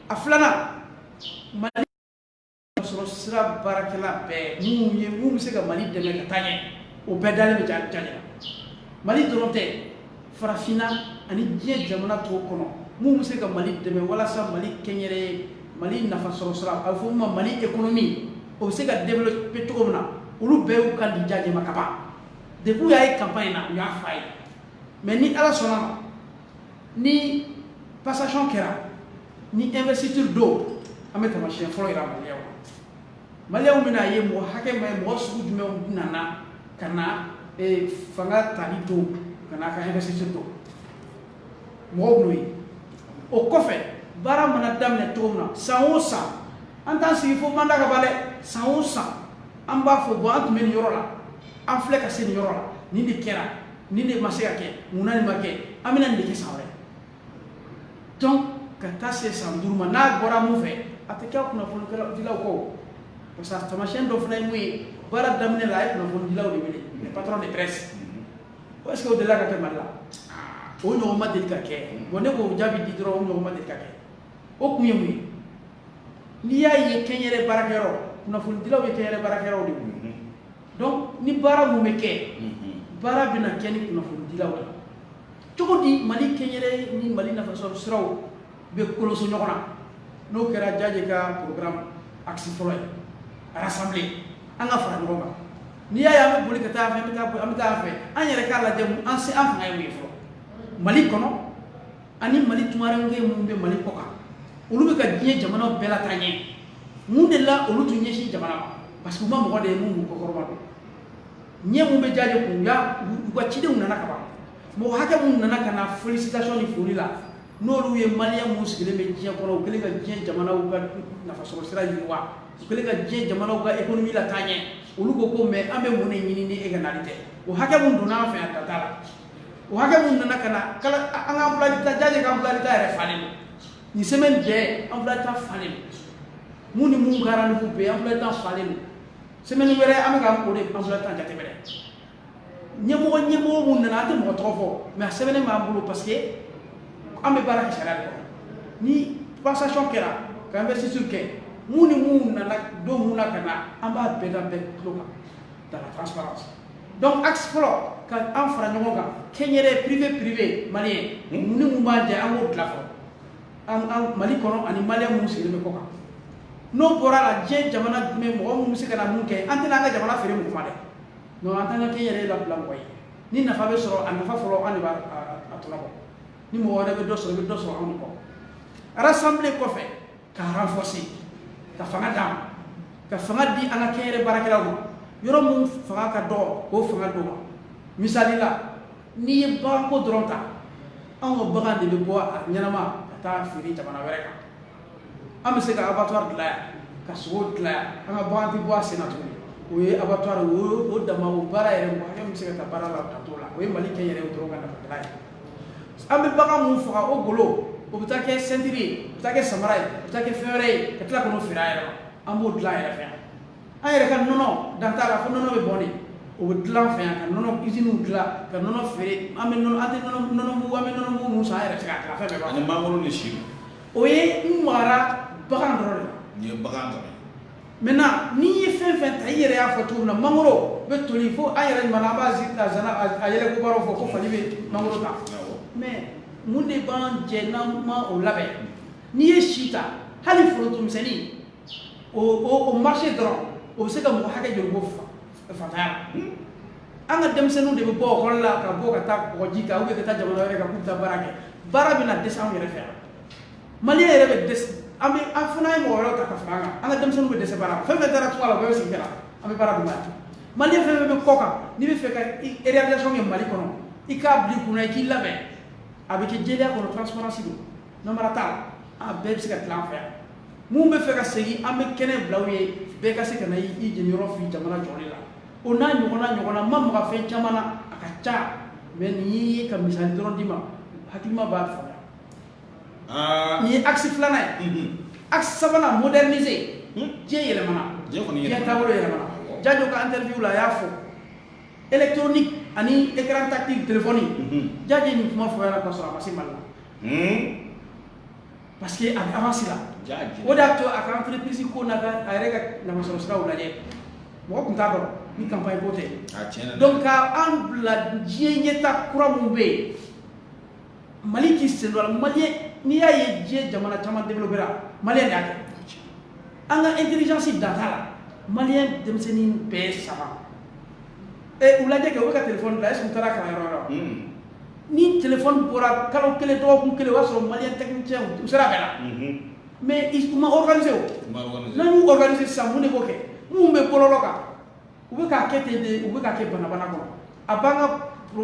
S2: a filanan mali sɔrɔ sira baarakɛla bɛɛ minnu ye minnu bɛ se ka mali dɛmɛ ka taa ɲɛ o bɛɛ dalen bɛ jaje la mali dɔrɔn tɛ farafinna ani diɲɛ jamana tɔw kɔnɔ minnu bɛ se ka mali dɛmɛ walasa mali kɛnyɛrɛ ye mali nafa sɔrɔ sira a bɛ fɔ min ma mali ekonomi o bɛ se ka développer cogo min na olu bɛɛ y'u kan di jaje ma ka ban depuis u y'a ye campagne na u y'a fɔ a ye mais ni ala sɔnna ma ni passation kɛra ni investiture don an bɛ tamasiyɛn fɔlɔ yira maliyɛnw bɛna ye mɔgɔ hakɛ mun ye mɔgɔ sugu jumɛnw nana ka na eh, fanga tali don ka na a ka investiture don mɔgɔw b'o ye o kɔfɛ baara mana daminɛ cogo min na san o san an t'an sigi fo mandat ka ban dɛ san o san an b'a fɔ bon an tun bɛ nin yɔrɔ la an filɛ ka se nin yɔrɔ la nin de kɛra nin de ma se ka kɛ mun na nin ma kɛ an bɛna nin de kɛ san wɛrɛ donc ka taa se san duuru ma n'a bɔra mun fɛ a tɛ kɛ kunnafonidilaw kɔ parce que tamasiyɛn dɔ fana ye mun ye baara daminɛ la a ye kunnafonidilaw de wele les patrons de presse est ce que o delila ka kɛ mali la o ɲɔgɔn ma deli ka kɛ bon ne k'o jaabi di dɔrɔn o ɲɔgɔn ma deli ka kɛ o kun ye mun ye n'i y'a ye kɛnyɛrɛ baarakɛyɔrɔ kunnafonidilaw ye kɛnyɛrɛ baarakɛyɔrɔw de ye donc ni baara mun bɛ kɛ baara bɛna kɛ ni kunnafonidilaw ye cogo di mali kɛnyɛrɛ ni mali nafasɔrɔ siraw bɛ koloso ɲɔgɔn na n'o kɛra jaje ka programme axe fɔlɔ ye rassembler an ka fara ɲɔgɔn kan n'i y'a ye an bɛ boli ka taa fɛ an bɛ taa fɛ an yɛrɛ k'a lajɛ an se an fanga ye mun ye fɔlɔ mali kɔnɔ ani mali tunkarankɛ minnu bɛ mali kɔ kan olu bɛ ka diɲɛ jamanaw bɛɛ lataa ɲɛ mun de la olu tun ɲɛsin jamana ma parce que u ma mɔgɔ de ye mun b'u kɔkɔrɔmadon ɲɛ mun bɛ jaje kun u ka cidenw nana ka ban mɔgɔ hakɛ minnu nana ka na félicitation ni foli la n'olu ye maliyɛn minnu sigilen bɛ diɲɛ kɔnɔ u kɛlen ka diɲɛ jamanaw ka nafasɔrɔ sira yiriwa u kɛlen ka diɲɛ jamanaw ka économie lataa ɲɛ olu ko ko mais an bɛ mun de ɲini ni e ka nali tɛ o hakɛ minnu donna an fɛ yan dan t'a la o hakɛ mun nana ka na an ka emploi du temps jaje ka emploi du temps yɛrɛ falen don nin semaine bɛɛ emploi du temps falen don mun ni mun ka rendez-vous bɛ emploi du temps falen don semaine wɛrɛ an bɛ ka o de emploi du temps jateminɛ ɲɛmɔgɔ ɲɛmɔgɔ mun nana an tɛ mɔgɔ tɔgɔ fɔ mais a sɛbɛnnen b'an bolo parce que an bɛ baara kɛ sariya de kɔnɔ ni passation kɛra ka investiture kɛ mun ni mun nana don mun na ka na an b'a bɛɛ da bɛɛ tulo kan dans la transparence donc axe fɔlɔ ka an fara ɲɔgɔn kan kɛnyɛrɛ privé privé maliyɛn mun ni mun b'an cɛ an b'o dilan fɔlɔ an an mali kɔnɔ ani maliyɛn minnu sigilen bɛ kɔ kan n'o bɔra la diɲɛ jamana jumɛn mɔgɔ minnu bɛ se ka na mun kɛ an tɛna an ka jamana feere mɔgɔ ma dɛ non an t'an ka kɛnyɛrɛ labila mɔgɔ ye ni nafa bɛ sɔrɔ a nafa fɔlɔ an de b'a tɔnɔ bɔ ni mɔgɔ wɛrɛ bɛ dɔ sɔrɔ i bɛ dɔ sɔrɔ anw de kɔ rassembler kɔfɛ ka renforcer ka fanga d'a ma ka fanga di an ka kɛnyɛrɛ baarakɛlaw ma yɔrɔ min fanga ka dɔgɔ k'o fanga d'o ma misali la n'i ye baganko dɔrɔn ta anw ka bagan de bɛ bɔ a ɲɛnama ka taa feere jamana wɛrɛ kan an bɛ se ka abattoir dilan yan ka sogo dilan yan an ka bagan tɛ bɔ a sen na tuguni o ye abattoir o o dama o baara yɛrɛ mɔgɔ hakɛ min bɛ se ka taa baara la ka t'o la o ye mali kɛnyɛrɛ dɔrɔn ka nafa dilan ye an bɛ bagan mun faga o golo o bɛ taa kɛ sentiri ye o bɛ taa kɛ samara ye o bɛ taa kɛ fɛn wɛrɛ ye ka tila k'o feere an yɛrɛ ma an b'o dilan an yɛrɛ fɛ yan an yɛrɛ ka nɔnɔ dan t'a la fo nɔnɔ bɛ bɔn de o bɛ dilan fɛ yan ka nɔnɔ usine dilan ka nɔnɔ feere an bɛ nɔnɔ an tɛ nɔnɔ nɔnɔ mugu an bɛ nɔnɔ mugu mun san an yɛrɛ tɛ se k'a dilan fɛn bɛɛ b'a ani mangoro ni si
S1: o ye n
S2: magara bagan dɔrɔn de la nin ye bagan dɔrɔn ye maintenant n'i ye fɛn fɛn ta i yɛrɛ y'a fɔ cogo min na mangoro bɛ toli fo an yɛrɛ ɲuman an b'a yɛlɛko baro fɔ ko fali bɛ mangoro ta mais mun de b'an jɛ n'an ma o labɛn n'i ye si ta hali forotomisɛnnin o marché dɔrɔn o bɛ se ka mɔgɔ hakɛ joli bɔ faantanya la hmm? an ka denmisɛnninw de bɛ bɔ ekɔli la ka bɔ ka taa kɔgɔji kan ou bien ka taa jamana wɛrɛ kan k'u taa baara kɛ baara bɛna dɛsɛ anw yɛrɛ fɛ yan malien yɛrɛ bɛ dɛsɛ an bɛ an fana ye mɔgɔ wɛrɛw ta ka fara an kan an ka denmisɛnninw bɛ dɛsɛ baara la fɛn fɛn taara tunga la o bɛɛ bɛ segin ka na an bɛ baara d'u ma yan malien fɛn fɛn bɛ kɔ kan n'i bɛ fɛ ka réalisation kɛ mali kɔnɔ i k'a bila i kunna i k'i labɛn a bɛ kɛ jɛlenya kɔnɔ transparence don namara t'a la a bɛɛ bɛ se ka dilan an fɛ yan mun bɛ fɛ ka segin an bɛ kɛnɛ bila u ye bɛɛ ka se ka na i jeniyɔrɔ fin jamana jɔli la o n'a ɲɔgɔnna ɲɔgɔnna ma maga fɛn caman na a ka ca mais nin ye ka misali dɔrɔn d'i ma hakilima b'a faamuya aa, nin ye axe filanan ye unhun, axe sabanan moderniser Hmm. diɲɛ yɛlɛmana Diɲɛ kɔni diɲɛ yɛlɛmana. taabolo yɛlɛmana Awɔ. jajo ka interview la a y'a fɔ électronique ani écran tactile téléphone Mhm. jajo ye nin kuma fɔ yan k'a sɔrɔ a ma se mali la Hmm. parce que a bɛ avance la Jaji. o de y'a to a ka entreprise ko n'a ka a yɛrɛ ka nafasɔrɔ siraw lajɛ mɔgɔ tun t'a dɔn ni campagne ko tɛ a tiɲɛ na dɛ. donc ka an bila diɲɛ ɲɛta kura minnu bɛ yen Mali k'i sen mali n'i y'a ye diɲɛ jamana caman de bɛ mali y'a kɛ an ka eilisi dan la mali denmisɛnnin bɛɛ saba ɛ u lajɛ kɛ u ka tile la e sun taara ka yɔrɔ yɔrɔ ni tile bɔra kalo kelen dɔgɔkun kelen o y'a sɔrɔ mali tɛ cɛ u sera bɛ la mɛ i kuma ofase n'u ofase sa de ko kɛ minnu bɛ bɔlɔ kan u bɛ k'a kɛ ten de u bɛ k'a kɛ banabana kɔnɔ a b'an ka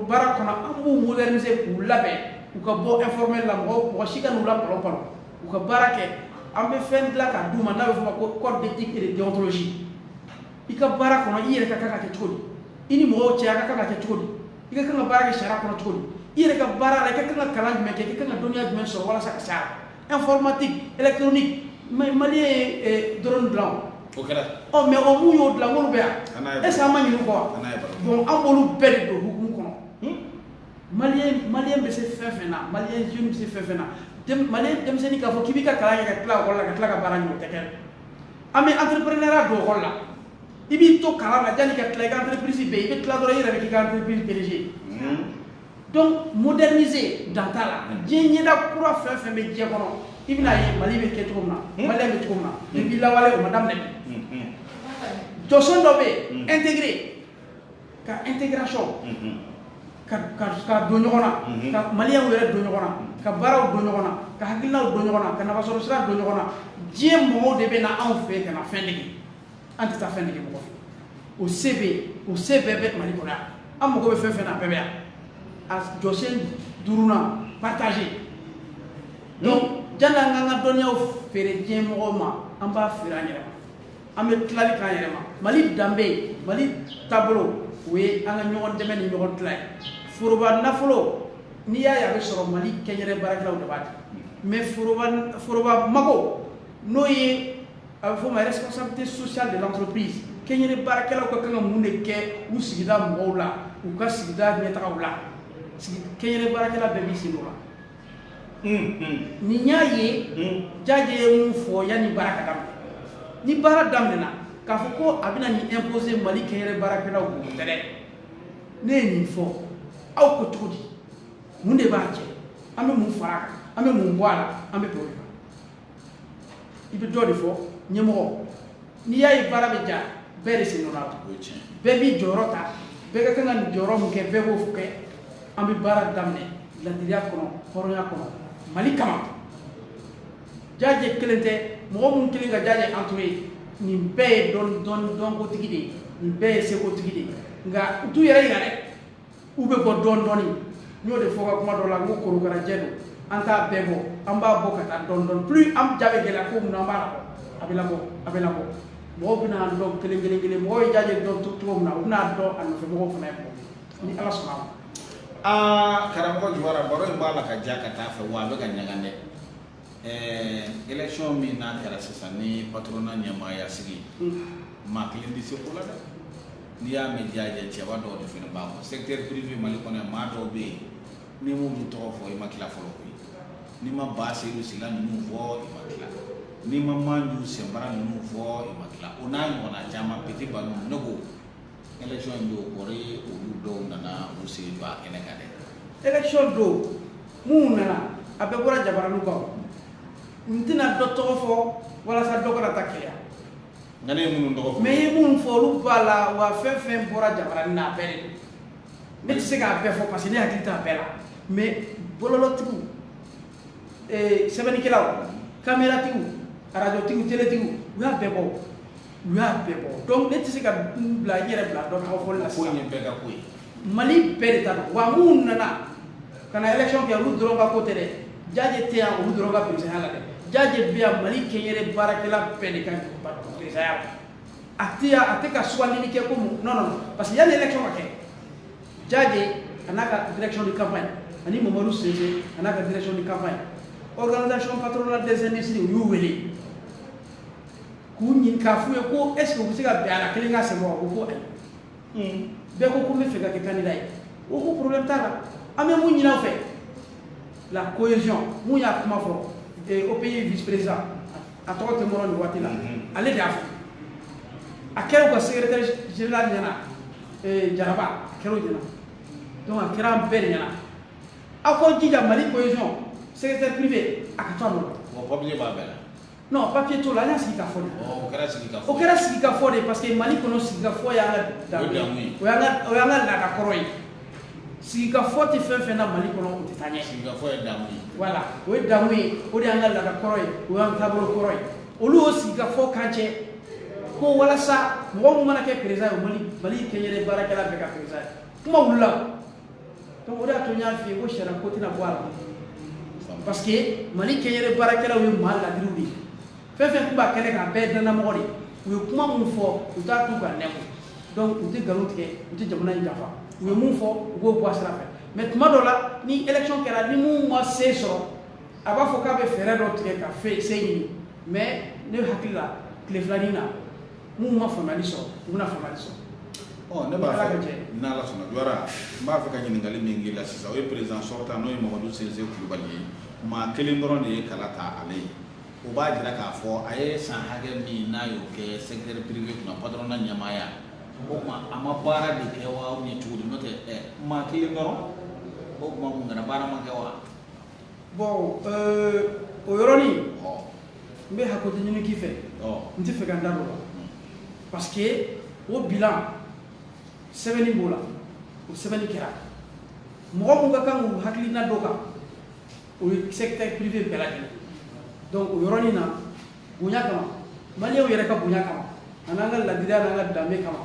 S2: baara kɔnɔ an b'u moderniser k'u labɛn u ka bɔ informel la mɔgɔ mɔgɔ si kan'u la kɔlɔn kɔnɔ u ka baara kɛ an bɛ fɛn dilan k'a d'u ma n'a bɛ f'o ma ko code d'éthique et de déontologie i ka baara kɔnɔ i yɛrɛ ka kan ka kɛ cogo di i ni mɔgɔw cɛ a ka kan ka kɛ cogo di i ka kan ka baara kɛ sariya kɔnɔ cogo di i yɛrɛ ka baara la i ka kan ka kalan jumɛn kɛ i ka kan ka dɔnniya jumɛn sɔrɔ walasa ka s'a la informatique électronique maliyɛn ye eh, drone dilan o kɛra mais o mun y'o dilan olu bɛ yan est ce que an ma ɲin'u kɔ wa bon an b'olu bɛɛ de don hukumu kɔnɔ Hmm? maliyɛn maliyɛn bɛ se fɛn fɛn na maliyɛn jeune bɛ se fɛn fɛn na Dem- maliyɛn denmisɛnnin k'a fɔ k'i b'i ka kalan kɛ ka tila ekɔli la ka tila ka baara ɲini o tɛ kɛ an bɛ entreprenariat don ekɔli la i b'i to kalan na yanni ka tila i ka entreprise bɛ yen i bɛ tila dɔrɔn i yɛrɛ bɛ k'i ka entreprise PDG Hmm? donc moderniser dan t'a la diɲɛ ɲɛda kura fɛn fɛn bɛ diɲɛ kɔnɔ i bɛna ye mali bɛ kɛ cogo min na mali bɛ cogo min na depuis lawale o ma daminɛ bi jɔsen dɔ bɛ yen intégrer ka intégration ka ka ka don ɲɔgɔn na ka maliyɛnw yɛrɛ don ɲɔgɔn na ka baaraw don ɲɔgɔn na ka hakilinaw don ɲɔgɔn na ka nafasɔrɔ sira don ɲɔgɔn na diɲɛ mɔgɔw de bɛ na anw fɛ ka na fɛn dege an tɛ taa fɛn dege mɔgɔ fɛ o se bɛ o se bɛɛ bɛ mali kɔnɔ yan an mago bɛ fɛn fɛn na a bɛɛ bɛ yan a jɔsen duurunan partager donc jani an k'an ka dɔnniyaw feere diɲɛ mɔgɔw ma an b'a feere an yɛrɛ ma an bɛ tilali k'an yɛrɛ ma mali danbe mali taabolo o ye an ka ɲɔgɔn dɛmɛ ni ɲɔgɔn tila ye foroba nafolo n'i y'a ye a bɛ sɔrɔ mali kɛnyɛrɛ baarakɛlaw de b'a di mais foroba foroba mago n'o ye a bɛ fɔ o ma responsabilité sociale de l'entreprise kɛnyɛrɛ baarakɛlaw ka kan ka mun de kɛ u sigida mɔgɔw la u ka sigida ɲɛtagaw la kɛnyɛrɛ baarakɛla bɛɛ b'i sen la n'i y'a ye jaje ye mun fɔ yanni baara ka daminɛ ni baara daminɛna k'a fɔ ko a bɛna nin imposer mali kɛnyɛrɛ baarakɛlaw kun tɛ dɛ ne ye nin fɔ aw ko cogo di mun de b'a cɛ an bɛ mun fara a kan an bɛ mun bɔ a la an bɛ bɔ i bɛ dɔ de fɔ ɲɛmɔgɔ n'i y'a ye baara bɛ diya bɛɛ de sen donna a la bɛɛ b'i jɔyɔrɔ ta bɛɛ ka kan ka nin jɔyɔrɔ min kɛ bɛɛ b'o kɛ an bɛ baara daminɛ ladiriya kɔnɔ hɔrɔnya kɔnɔ mali kama jaje kelen tɛ mɔgɔ minnu kɛlen ka jaje entourer nin bɛɛ ye dɔnkotigi de ye nin bɛɛ ye sekotigi de ye nka u t'u yɛrɛ yira u bɛ bɔ dɔɔni dɔɔni n y'o de fɔ n ka kuma dɔ la n ko korokarajɛ don an t'a bɛɛ bɔ an b'a bɔ ka taa dɔɔni dɔɔni plus enjeu bɛ gɛlɛya cogo min na an b'a labɔ a bɛ labɔ a bɛ labɔ mɔgɔw bɛna an dɔn kelen kelen kelen mɔgɔw ye jaje dɔn cogo min na u bɛna dɔn a nɔfɛ mɔgɔw fana ye ni ala sɔnna a ma. aa karamɔgɔ
S1: jawara baro in b'a la ka diya ka taa a fɛ wa a bɛ ka ɲaga dɛ. Ɛɛ élection min n'a kɛra sisan ni patronat ɲɛmaaya sigi, unhun, maa kelen tɛ se ko la dɛ, n'i y'a mɛn jaje cɛba dɔw de fana b'a kɔ secteur privé Mali kɔnɔ yan maa dɔw bɛ yen n'i m'olu tɔgɔ fɔ i ma tila fɔlɔ koyi, n'i ma Ba Seyidu Sila ninnu fɔ i ma tila, n'i ma Manju Sɛnbara ninnu fɔ i ma tila o n'a ɲɔgɔnna caman Petit Baru ninnu ne ko élection in don kɔrɔ olu dɔw nana u sen don a kɛnɛ kan dɛ élection
S2: don minnu nana a bɛɛ bɔra jabaraniw kan n tɛna dɔ tɔgɔ fɔ walasa dɔ kana taa keleya nka ne ye
S1: minnu tɔgɔ fɔ mais i ye minnu fɔ
S2: olu b'a la wa fɛn fɛn bɔra jabarani na a bɛɛ de ne tɛ se k'a bɛɛ fɔ parce que ne hakili t'a bɛɛ la mais bɔlɔlɔtigiw eh, sɛbɛnnikɛlaw kameratigiw arajotigiw teletigiw u y'a bɛɛ bɔ u y'a bɛɛ bɔ donc ne tɛ se ka n bila n yɛrɛ bila dɔ tɔgɔ fɔli la sisan, ko in ye bɛɛ ka ko
S1: ye, Mali bɛɛ de
S2: ta don wa minnu nana ka na élection kɛ olu dɔrɔn ka ko tɛ dɛ, Jaaje tɛ yan olu dɔrɔn ka perezanya la dɛ, Jaaje bɛ yan Mali kɛnyɛrɛ baarakɛla bɛɛ de ka perezanya la, a tɛ yan a tɛ ka sugandili kɛ ko mun non non parce que yanni élection ka kɛ Jaaje a n'a ka direction de campagne ani Mamadu Sinsi a n'a ka direction de campagne organisation patronale des industries u y'u wele K'u ɲini k'a f'u ye ko est ce que u bɛ se ka bɛn a la kelen ka sɛbɛn wa u ko ayi bɛɛ ko ko n bɛ fɛ ka kɛ candidat ye u ko problème t'a la an bɛ mun ɲini aw fɛ la cohésion min y'a kuma fɔ eh, OPI vice président a tɔgɔ tɛ n bolo nin waati la ale de y'a fɔ a kɛra u ka secrétaire général ɲɛna eh, jaraba a kɛra o ɲɛna donc a kɛra an bɛɛ de ɲɛna aw k'aw jija mali cohésion secteur privé a ka to a nɔ la O papier b'a bɛɛ la.
S1: non papier t'o
S2: la an y'a sigi ka fɔ de o kɛra sigi ka fɔ o
S1: kɛra sigi ka fɔ de
S2: parce que mali kɔnɔ sigi ka fɔ y'an ka danbe ye o y'an ka o y'an ka laada kɔrɔ ye sigi ka fɔ tɛ fɛn fɛn na mali kɔnɔ o tɛ taa ɲɛ sigi ka fɔ ye damu ye
S1: voilà o ye damu
S2: ye o de y'an ka laada kɔrɔ ye o y'an taabolo kɔrɔ ye olu y'o sigi ka fɔ k'an cɛ ko walasa mɔgɔ min mana kɛ perezan ye mali mali kɛnyɛrɛ baarakɛla bɛɛ ka perezan ye kuma wulila donc o de y'a to n y'a f'i ye ko sariya ko tɛna bɔ a la parce que mali kɛnyɛrɛ baarakɛlaw ye maa laadiriw de ye fɛn fɛn tun b'a kɛnɛ kan a bɛɛ ye dannamɔgɔ de ye u ye kuma minnu fɔ u t'a tu k'a nɛmu donc u tɛ nkalon tigɛ u tɛ jamana in janfa u ye min fɔ u b'o bɔ a sira fɛ mais tuma dɔ la ni élection kɛra ni min ma se sɔrɔ a b'a fɔ k'a bɛ fɛɛrɛ dɔ tigɛ ka se ɲini mais ne hakili la tile filanin na minnu ma faamuyali sɔrɔ u bɛna faamuyali sɔrɔ ɔ ne b'a
S1: fɛ n'ala sɔnna jawara n b'a fɛ ka ɲininkali min k'i la sisan o ye président sortant n'o ye mamadu sinsi kulubali ye maa kelen dɔrɔn de ye kala ta ale ye o b'a jira k'a fɔ a ye san hakɛ min n'a y'o kɛ secteur privé kunna patronat ɲɛmaaya o tuma a ma baara de kɛ wa ou bien cogo di n'o tɛ maa kelen dɔrɔn o tuma mun kama baara ma kɛ wa
S2: bon euh, o yɔrɔnin n bɛ hakɛto ɲini k'i fɛ n tɛ fɛ ka n da don o la parce que o bilan sɛbɛnni b'o la o sɛbɛnni kɛra mɔgɔ minnu ka kan k'u hakilina d'o kan o ye secteur privé bɛɛ lajɛlen donc o yɔrɔnin na bonya kama maliw yɛrɛ ka bonya kama ani an ka ladiriya n'an ka danbe kama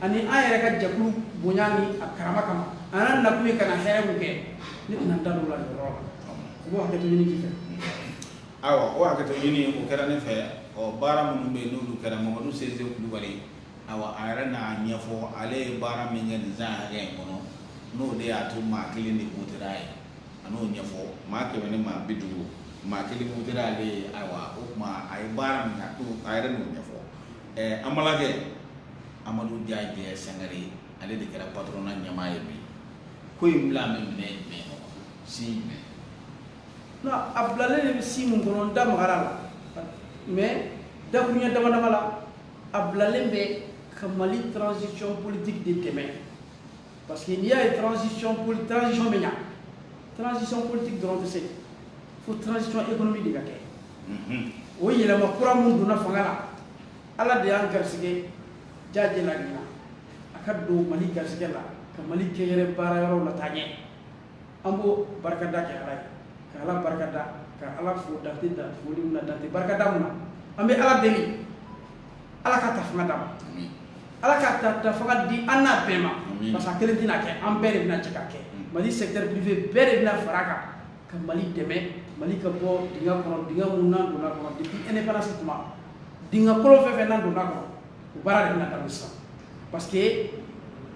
S2: ani an yɛrɛ ka jɛkulu bonya ni a karama kama an n'an nakun ye ka na hɛrɛ min kɛ ne tɛna n da don o la nin yɔrɔ la u b'o hakɛto ɲini k'i fɛ
S1: ayiwa o hakɛto ɲini o kɛra ne fɛ ɔ baara minnu bɛ yen n'olu kɛra mamadu sinsi kulubali ayiwa a yɛrɛ n'a ɲɛfɔ ale ye baara min kɛ nin san hakɛ in kɔnɔ n'o de y'a to maa kelen de wotera a ye a n'o ɲɛfɔ maa kɛmɛ ni maa bi duuru maa kelen wotera ale ye ayiwa o tuma a ye baara min kɛ a yɛrɛ n'o ɲɛfɔ ɛɛ an balimakɛ amadu jaje sankare ale de kɛra patronat ɲɛmaa ye bi ko in bilalen bɛ minɛn jumɛn kɔnɔ si jumɛn
S2: non a bilalen de bɛ si mun kɔnɔ n da magara la mais dakuruɲɛ dama dama la a bilalen bɛ ka mali transition politique de dɛmɛ parce que n'i y'a ye transition bɛ ɲa transition politique dɔrɔn tɛ se fo transition économique de ka kɛ mhm. o yɛlɛma kura minnu donna fanga la ala de y'an garisɛgɛ jaje la ɲinan a ka don mali garisɛgɛ la ka mali kɛnyɛrɛ baara yɔrɔw lataa ɲɛ an b'o barikada kɛ ala ye ka ala barikada ka ala fo dan tɛ foli mun na dan tɛ barikada mun na an bɛ ala deli ala ka ta fanga d'a ma ala ka ta fanga di an n'a bɛɛ ma parce que a kelen tɛna kɛ an bɛɛ de bɛna jɛ k'a kɛ mali secteur privé bɛɛ de bɛna fara a kan ka mali dɛmɛ mali ka bɔ dingɛ kɔnɔ dingɛ mun n'an donna kɔnɔ depuis indépendance tuma dingɛ kolon fɛn fɛn n'an donna kɔnɔ O baara de bɛna ta sisan parce que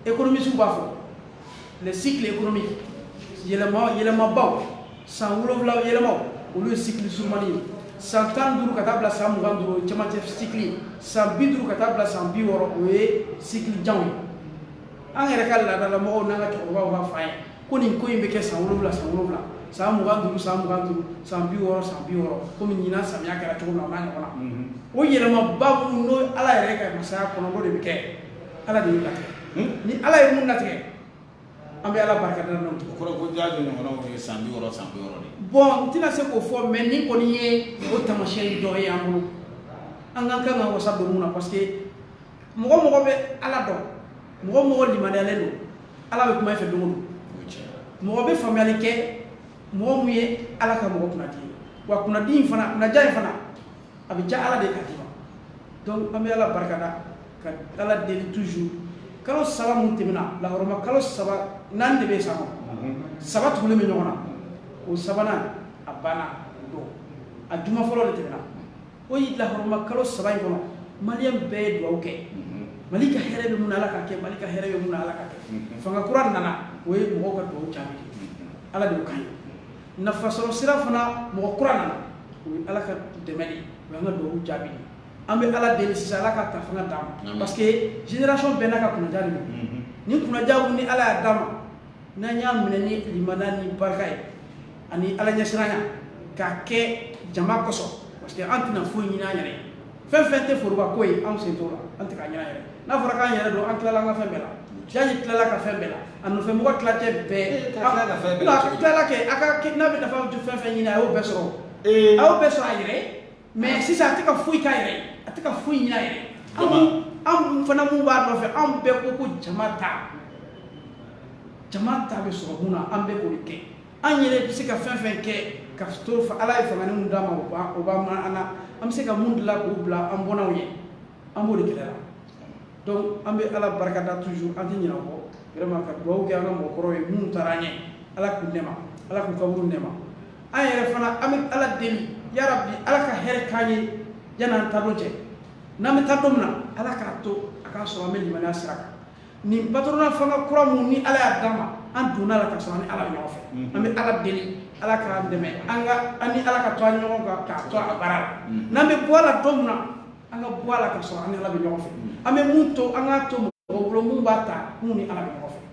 S2: économistew b'a fɔ le cycle économique yɛlɛma yɛlɛmabaw san wolonwula yɛlɛmaw olu ye cycle surumani ye san tan duuru ka taa bila san mugan duuru cɛmancɛ cycle ye san bi duuru ka taa bila san bi wɔɔrɔ o ye cycle janw ye an yɛrɛ ka laadalamɔgɔw n'an ka cɛkɔrɔbaw b'a fɔ an ye ko nin ko in bɛ kɛ san wolonwula san wolonwula san mugan duuru san mugan duuru san bi wɔɔrɔ san bi wɔɔrɔ komi ɲinan samiya kɛra cogo min na o n'a ɲɔgɔn na mhm. o yɛlɛmaba minnu n'o ala yɛrɛ ka masaya kɔnɔ n'o de bɛ kɛ ala de y'o latigɛ hmm? ni ala ye mun latigɛ an bɛ ala barika da n'o ye o kɔrɔ ko jaje
S1: ɲɔgɔnnaw ye san bi wɔɔrɔ san bi wɔɔrɔ de bon n tɛna se
S2: k'o fɔ mais nin kɔni ye o tamasiyɛn dɔ ye an bolo an ka kan ka wasa don mun na parce que mɔgɔ mɔgɔ bɛ ala dɔn mɔgɔ mɔgɔ limaniyalen don ala bɛ kuma i fɛ don o don mɔgɔ bɛ faamuyali kɛ mɔgɔ mun ye ala ka mɔgɔ kunnadi ye wa kunnadi in fana kunnaja in fana a bɛ ja ala de ka di ma donc an bɛ ala barikada ka ala deli toujours kalo saba mun tɛmɛna lahɔrɔma kalo saba naani de bɛ san kɔnɔ mhm. saba tugulen bɛ ɲɔgɔn na o sabanan a banna o don a juma fɔlɔ de tɛmɛna ko y'i lahɔrɔma kalo saba in kɔnɔ maliyɛn bɛɛ ye dugawu kɛ mhm. mali ka hɛrɛ bɛ mun na ala ka kɛ mali ka hɛrɛ bɛ mun na ala ka kɛ mhm. fanga kura nana o ye mɔgɔw ka dugawu jaabi mhm. ala de y'o k'an ye nafasɔrɔ sira fana mɔgɔ kura nana o ye ala ka dɛmɛ de o y'an ka dugawu jaabi de an bɛ ala deli sisan ala ka ta fanga d'a ma parce que génération bɛɛ n'a ka kunnaja de don ni kunnaja ni ala y'a d'a ma n'an y'a minɛ ni limaniya ni barika ye ani ala ɲɛsiranya k'a kɛ jama kosɔn parce que an tɛna foyi ɲini an yɛrɛ ye fɛn fɛn tɛ foroba ko ye anw sen t'o la an tɛ k'a ɲini an yɛrɛ n'a fɔra k'an yɛrɛ don an tilala an ka fɛn bɛɛ la jaje tilala ka fɛn bɛɛ la a nɔfɛ mɔgɔ tilancɛ bɛɛ tilala kɛ a ka n'a bɛ nafa fɛn fɛn ɲini a y'o bɛɛ sɔrɔ a y'o bɛɛ sɔrɔ a yɛrɛ mais sisan a tɛ ka foyi k'a yɛrɛ ye a tɛ ka foyi ɲin'a yɛrɛ ye anw fana mun b'a nɔfɛ anw bɛɛ ko ko jama ta jama ta bɛ sɔrɔ mun na an bɛɛ k'o de kɛ an yɛrɛ bɛ se ka fɛn fɛn kɛ ka to ala ye fanga mun d'a ma o b'a o b'a minɛ an na an bɛ se ka mun dilan k'o bila an bɔnnaw ye an b'o de kɛlɛ la donc an bɛ ala barikada toujours an tɛ ɲinɛ o kɔ vraiment ka dugawu kɛ an ka mɔgɔkɔrɔw ye minnu taara an ɲɛ ala k'u nɛɛma ala k'u kaburu nɛɛma an yɛrɛ fana an bɛ ala deli yarabi ala ka hɛrɛ k'an ye yan n'an taa don cɛ n'an bɛ taa don min na ala k'a to a k'a sɔrɔ an bɛ limaniya sira kan nin patronat fanga kura mun ni ala y'a d'a ma an donn'a la ka sɔrɔ an ni ala bɛ ɲɔgɔn fɛ an bɛ ala deli ala k'an dɛmɛ an ka an ni ala ka to an ɲɔgɔn kan k'a to a baara la n'an bɛ bɔ a la don min na an ka bɔ a la ka sɔrɔ an ni ala bɛ ɲɔgɔn fɛ an bɛ mun to an k'a to mɔgɔ bolo mun b'a ta mun ni ala bɛ ɲɔgɔn fɛ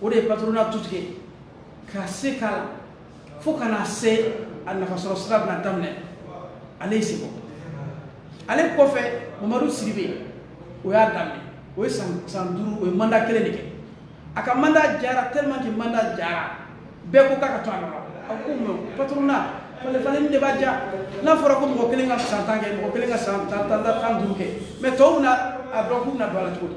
S2: o de ye patronat tutigɛ ka se k'a la fo ka na se a nafasɔrɔ sira bɛna daminɛ ale ye seko ale kɔfɛ mamadu sidibe o y'a daminɛ o ye san duuru o ye mandat kelen de kɛ a ka mandat jara tellement que mandat jara bɛɛ ko k'a ka to a nɔ rɔ a ko mais patronat falenfalen de b'a ja n'a fɔra ko mɔgɔ kelen ka san tan kɛ mɔgɔ kelen ka san tan tan ni duuru kɛ mais tɔw bɛna a dɔn k'u bɛna don a la cogo di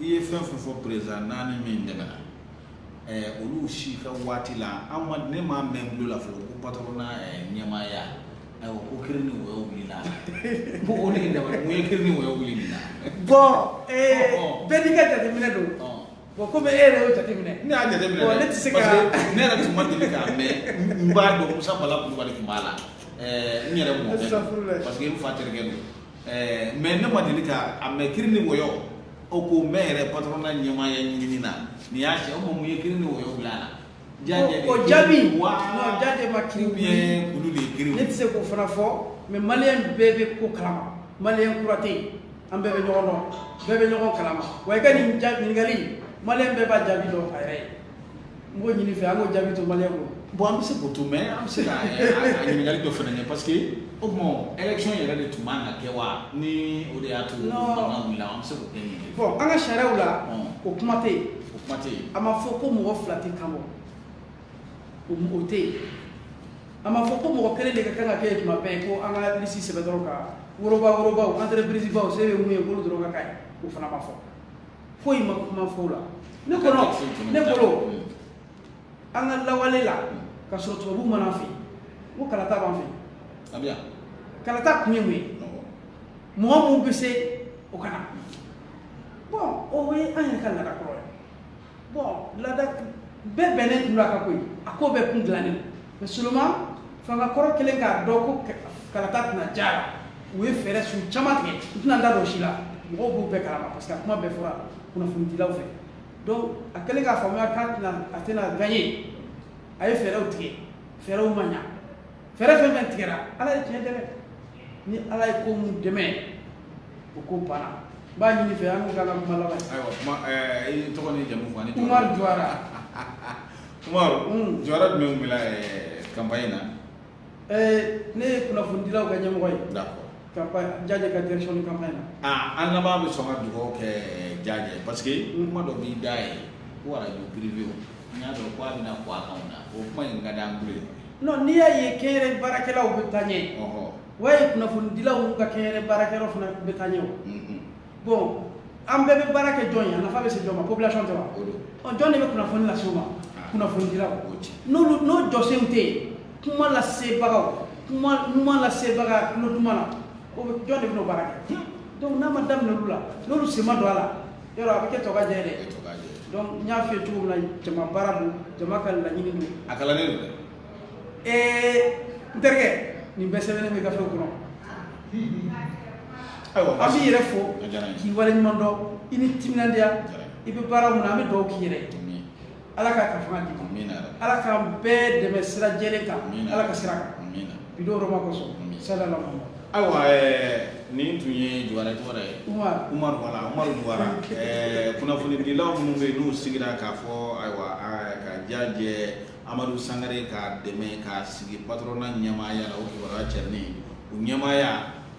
S1: i ye fɛn fɛn fɔ président naani min tɛmɛna eh, olu si ka waati la an ma ne m'a mɛn tulo la fɔlɔ ko patronat eh, ɲɛmaaya ayiwa ko kiri ni wɔyɔ wulila ko o de ye dabali mun ye kiri ni wɔyɔ wuli nin na bon
S2: eh, Ɔ, ɔ. bɛɛ n'i ka jateminɛ don Ɔ. bon komi e yɛrɛ y'o jateminɛ ne y'a jateminɛ Bon, dɛ,
S1: ne tɛ se ka- parce
S2: que ne yɛrɛ tun ma
S1: deli k'a mɛn n b'a dɔn musa bala kulubali tun b'a la ɛɛ, n yɛrɛ mɔkɛ Astafurulayi. don parce que n fa terikɛ don ɛɛ mais ne ma deli k'a mɛn kiri ni wɔyɔ o ko mɛn yɛrɛ patronat ɲɛmaaya ɲinini na nin y'a se o ma mun ye kiri ni wɔyɔ bila a la. Jaje de o ye jaabi
S2: kiri wa non jaje ma kiri ou bien kulu de ye
S1: kiri ne tɛ se k'o fana
S2: fɔ mais maliyɛn bɛɛ bɛ ko kalama maliyɛn kura tɛ yen an bɛɛ bɛ ɲɔgɔn dɔn bɛɛ bɛ ɲɔgɔn kalama wa i ka nin ja- ɲininkali in, maliyɛn bɛɛ b'a jaabi dɔn a yɛrɛ ye N b'o ɲini i fɛ an k'o jaabi to maliyɛnw bolo. Bon an bɛ se k'o to
S1: mais an bɛ se ka a ɲininkali dɔ fana kɛ parce que o tuma élection yɛrɛ de tun man ka kɛ wa ni o de y'a to mankan wulila an bɛ se k'o kɛ ɲininka ye. Bon an ka sariyaw
S2: la o kuma tɛ yen, o kuma tɛ yen, a ma fɔ ko mɔgɔ fila tɛ kan bɔ o tɛ yen, a ma fɔ ko mɔgɔ kelen de ka kan ka kɛ yen tuma bɛɛ ko an ka liste sɛbɛn dɔrɔn ka woroba worobaw entreprises baw se bɛ mun ye k'olu dɔrɔn ka k'a ye o fana ma fɔ foyi ma kuma fɔ o la ne kɔnɔ ne bolo an ka lawale la ka sɔrɔ tubabu ma na an fɛ ko kalata b'an fɛ kalata kun ye mun ye mɔgɔ min bɛ se o ka na bon o ye an yɛrɛ ka laada kɔrɔ ye bon laada bɛɛ bɛnnen tun don a ka ko ye a ko bɛɛ kun dilannen don Mais seulement fanga kɔrɔ kɛlen k'a dɔn ko kalata tɛna diya a la u ye fɛɛrɛ su caman tigɛ n tɛna n da don o si la mɔgɔw b'u bɛɛ kalama parce que a kuma bɛɛ fɔra kunnafonidilaw fɛ donc a kɛlen k'a faamuya k'a tɛna a tɛna gagner a ye fɛɛrɛw tigɛ fɛɛrɛw ma ɲa fɛɛrɛ fɛn fɛn tigɛra ala ye tiɲɛ dɛmɛ ni ala ye ko mun dɛmɛ o ko banna n b'a ɲini i fɛ an k'u ka kuma laban ayiwa kuma ɛɛ i
S1: tɔgɔ n'i jamu fɔ an ye umar juwara Umaru jɔyɔrɔ jumɛn tun b'i la campagne in na?
S2: Ɛɛ ne ye kunnafonidilaw ka ɲɛmɔgɔ ye. D'accord. Campagne
S1: Jajɛ
S2: ka direction de campagne na. Aa an lamɛnbaa bɛ
S1: sɔn ka dugawu kɛ Jajɛ ye parce que kuma dɔ b'i da yen ko arajo privéw n y'a dɔn k'a bɛna bɔ a kan o la, o kuma in ka di an tulo ye. Non n'i y'a
S2: ye kɛnyɛrɛye baarakɛlaw bɛ taa ɲɛ, ɔhɔ, o y'a ye kunnafonidilaw ka kɛnyɛrɛye baarakɛlaw fana bɛ taa ɲɛ o. Unhun. bon an bɛɛ bɛ baara kɛ jɔn ye a nafa bɛ se jɔn ma population tɛ wa ɔ jɔn de bɛ kunnafoni lase u ma ah. kunnafonidilaw n'olu n'u jɔsenw tɛ kuma lasebagaw kuma ɲuman lasebaga tulo duman na o bɛ jɔn de bɛna o baara kɛ donc n'a ma daminɛ olu la n'olu sen ma don a la dɔrɔn a bɛ kɛ tokajɛ ye dɛ donc n y'a f'i ye cogo min na jama baara don jama ka laɲini don a kalannen don dɛ
S1: ee
S2: n terikɛ nin bɛɛ sɛbɛnnen bɛ gafew
S1: kɔnɔ ayiwa an b'i yɛrɛ
S2: fo k'i waleɲuman dɔn i ni timinandiya i bɛ baara mun na an bɛ dugawu k'i yɛrɛ ala k'a ka faamu d'i ma ala k'an bɛɛ dɛmɛ sira jɛlen kan ala ka sira kan bi don hɔrɔma kosɔn salalahu
S1: ayiwa nin tun ye juwara tɔgɔ ye umaru wala umaru juwara kunnafonidilaw minnu bɛ yen n'u sigira k'a fɔ ayiwa ka jajɛ Amadu sangare k'a dɛmɛ k'a sigi patronat ɲɛmaaya la o kibaruya cɛrinni o ɲɛmaaya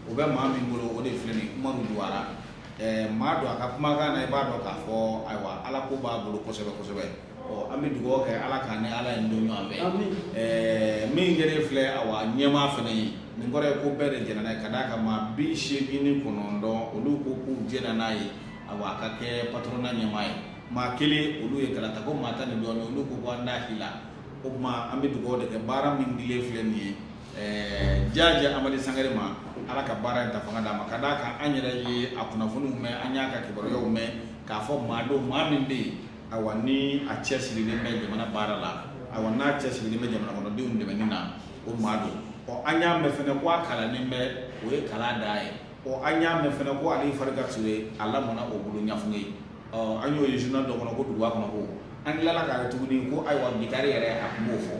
S1: o bɛ maa min bolo o de filɛ nin ye Umaru Juwara ɛɛ maa dɔn a ka kumakan na i b'a dɔn k'a fɔ ayiwa Ala ko b'a bolo kosɛbɛ kosɛbɛ ɔ an bɛ dugawu kɛ Ala k'an ni Ala in to ɲɔgɔn fɛ amin ɛɛ min kɛlen filɛ awa ɲɛmaa fana ye nin kɔrɔ ye ko bɛɛ de jɛnna n'a ye ka d'a kan maa bi seegin ni kɔnɔntɔn olu ko k'u jɛnna n'a ye awa a ka kɛ patronat ɲɛmaa ye maa kelen olu ye kalata ko maa tan ni dɔɔnin olu ko ko an t'a si la o tuma an bɛ dugawu de kɛ baara min dilen filɛ nin ye ɛɛ jaajɛ amadu sangare ma ala ka baara in ta fanga d'a ma ka d'a kan an yɛrɛ ye a kunnafoniw mɛn an y'a ka kibaruyaw mɛn k'a fɔ maa don maa min bɛ yen awa ni a cɛsirilen bɛ jamana baara la awa n'a cɛsirilen bɛ jamana kɔnɔdenw dɛmɛni na o maa don ɔ an y'a mɛn fana ko a kalannen bɛ o ye kalan dan ye ɔ an y'a mɛn fana ko ali farika ture a lamɔna o bolo ɲafunge an y'o ye journal dɔ kɔnɔ ko duguba kɔnɔ ko an tilala k'a ye tuguni ko ayiwa gitari yɛrɛ a tun b'o fɔ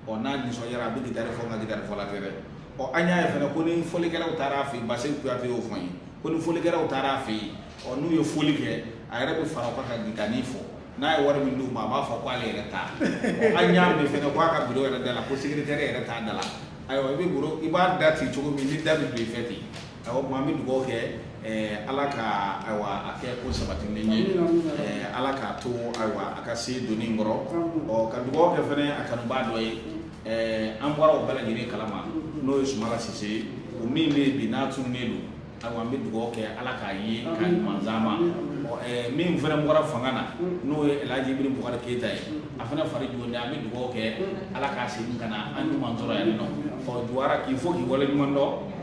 S1: ɔ n'a nisɔndiyara a bɛ gitari fɔ nka gitarifɔla tɛ dɛ ɔ an y'a ye fana ko ni folikɛlaw taara a fɛ yen baseku kuyate y'o fɔ n ye ko ni folikɛlaw taara a fɛ yen ɔ n'u ye foli kɛ a yɛrɛ bɛ fara o kan ka gitari fɔ n'a ye wari min d'u ma a b'a fɔ k' ale yɛrɛ ta an y'a mɛn fana k'a ka bureau yɛrɛ da la ko secrétaire yɛrɛ t'a da la ayiwa i bɛ i b'a da ci cogo min ni da bɛ don i fɛ ten Awa o tuma an bɛ dugawu kɛ ala ka ayiwa a kɛ ko sabatilen ye ala k'a to ayiwa a ka se doni kɔrɔ ɔ ka dugawu kɛ fana a kanubaa dɔ ye an bɔra o bɛɛ lajɛlen kalama n'o ye sumayila sise ye o min bɛ yen bi n'a tununnen don ayiwa an bɛ dugawu kɛ ala k'a ye k'a ɲuman d'an ma min fana bɔra fanga na n'o ye alaji ibrahim bubakari keyita ye a fana fari jɔn an bɛ dugawu kɛ ala k'a segin ka na an ɲuman sɔrɔ yan nɔ ɔ juwara k'i fo k'i waleɲumandɔn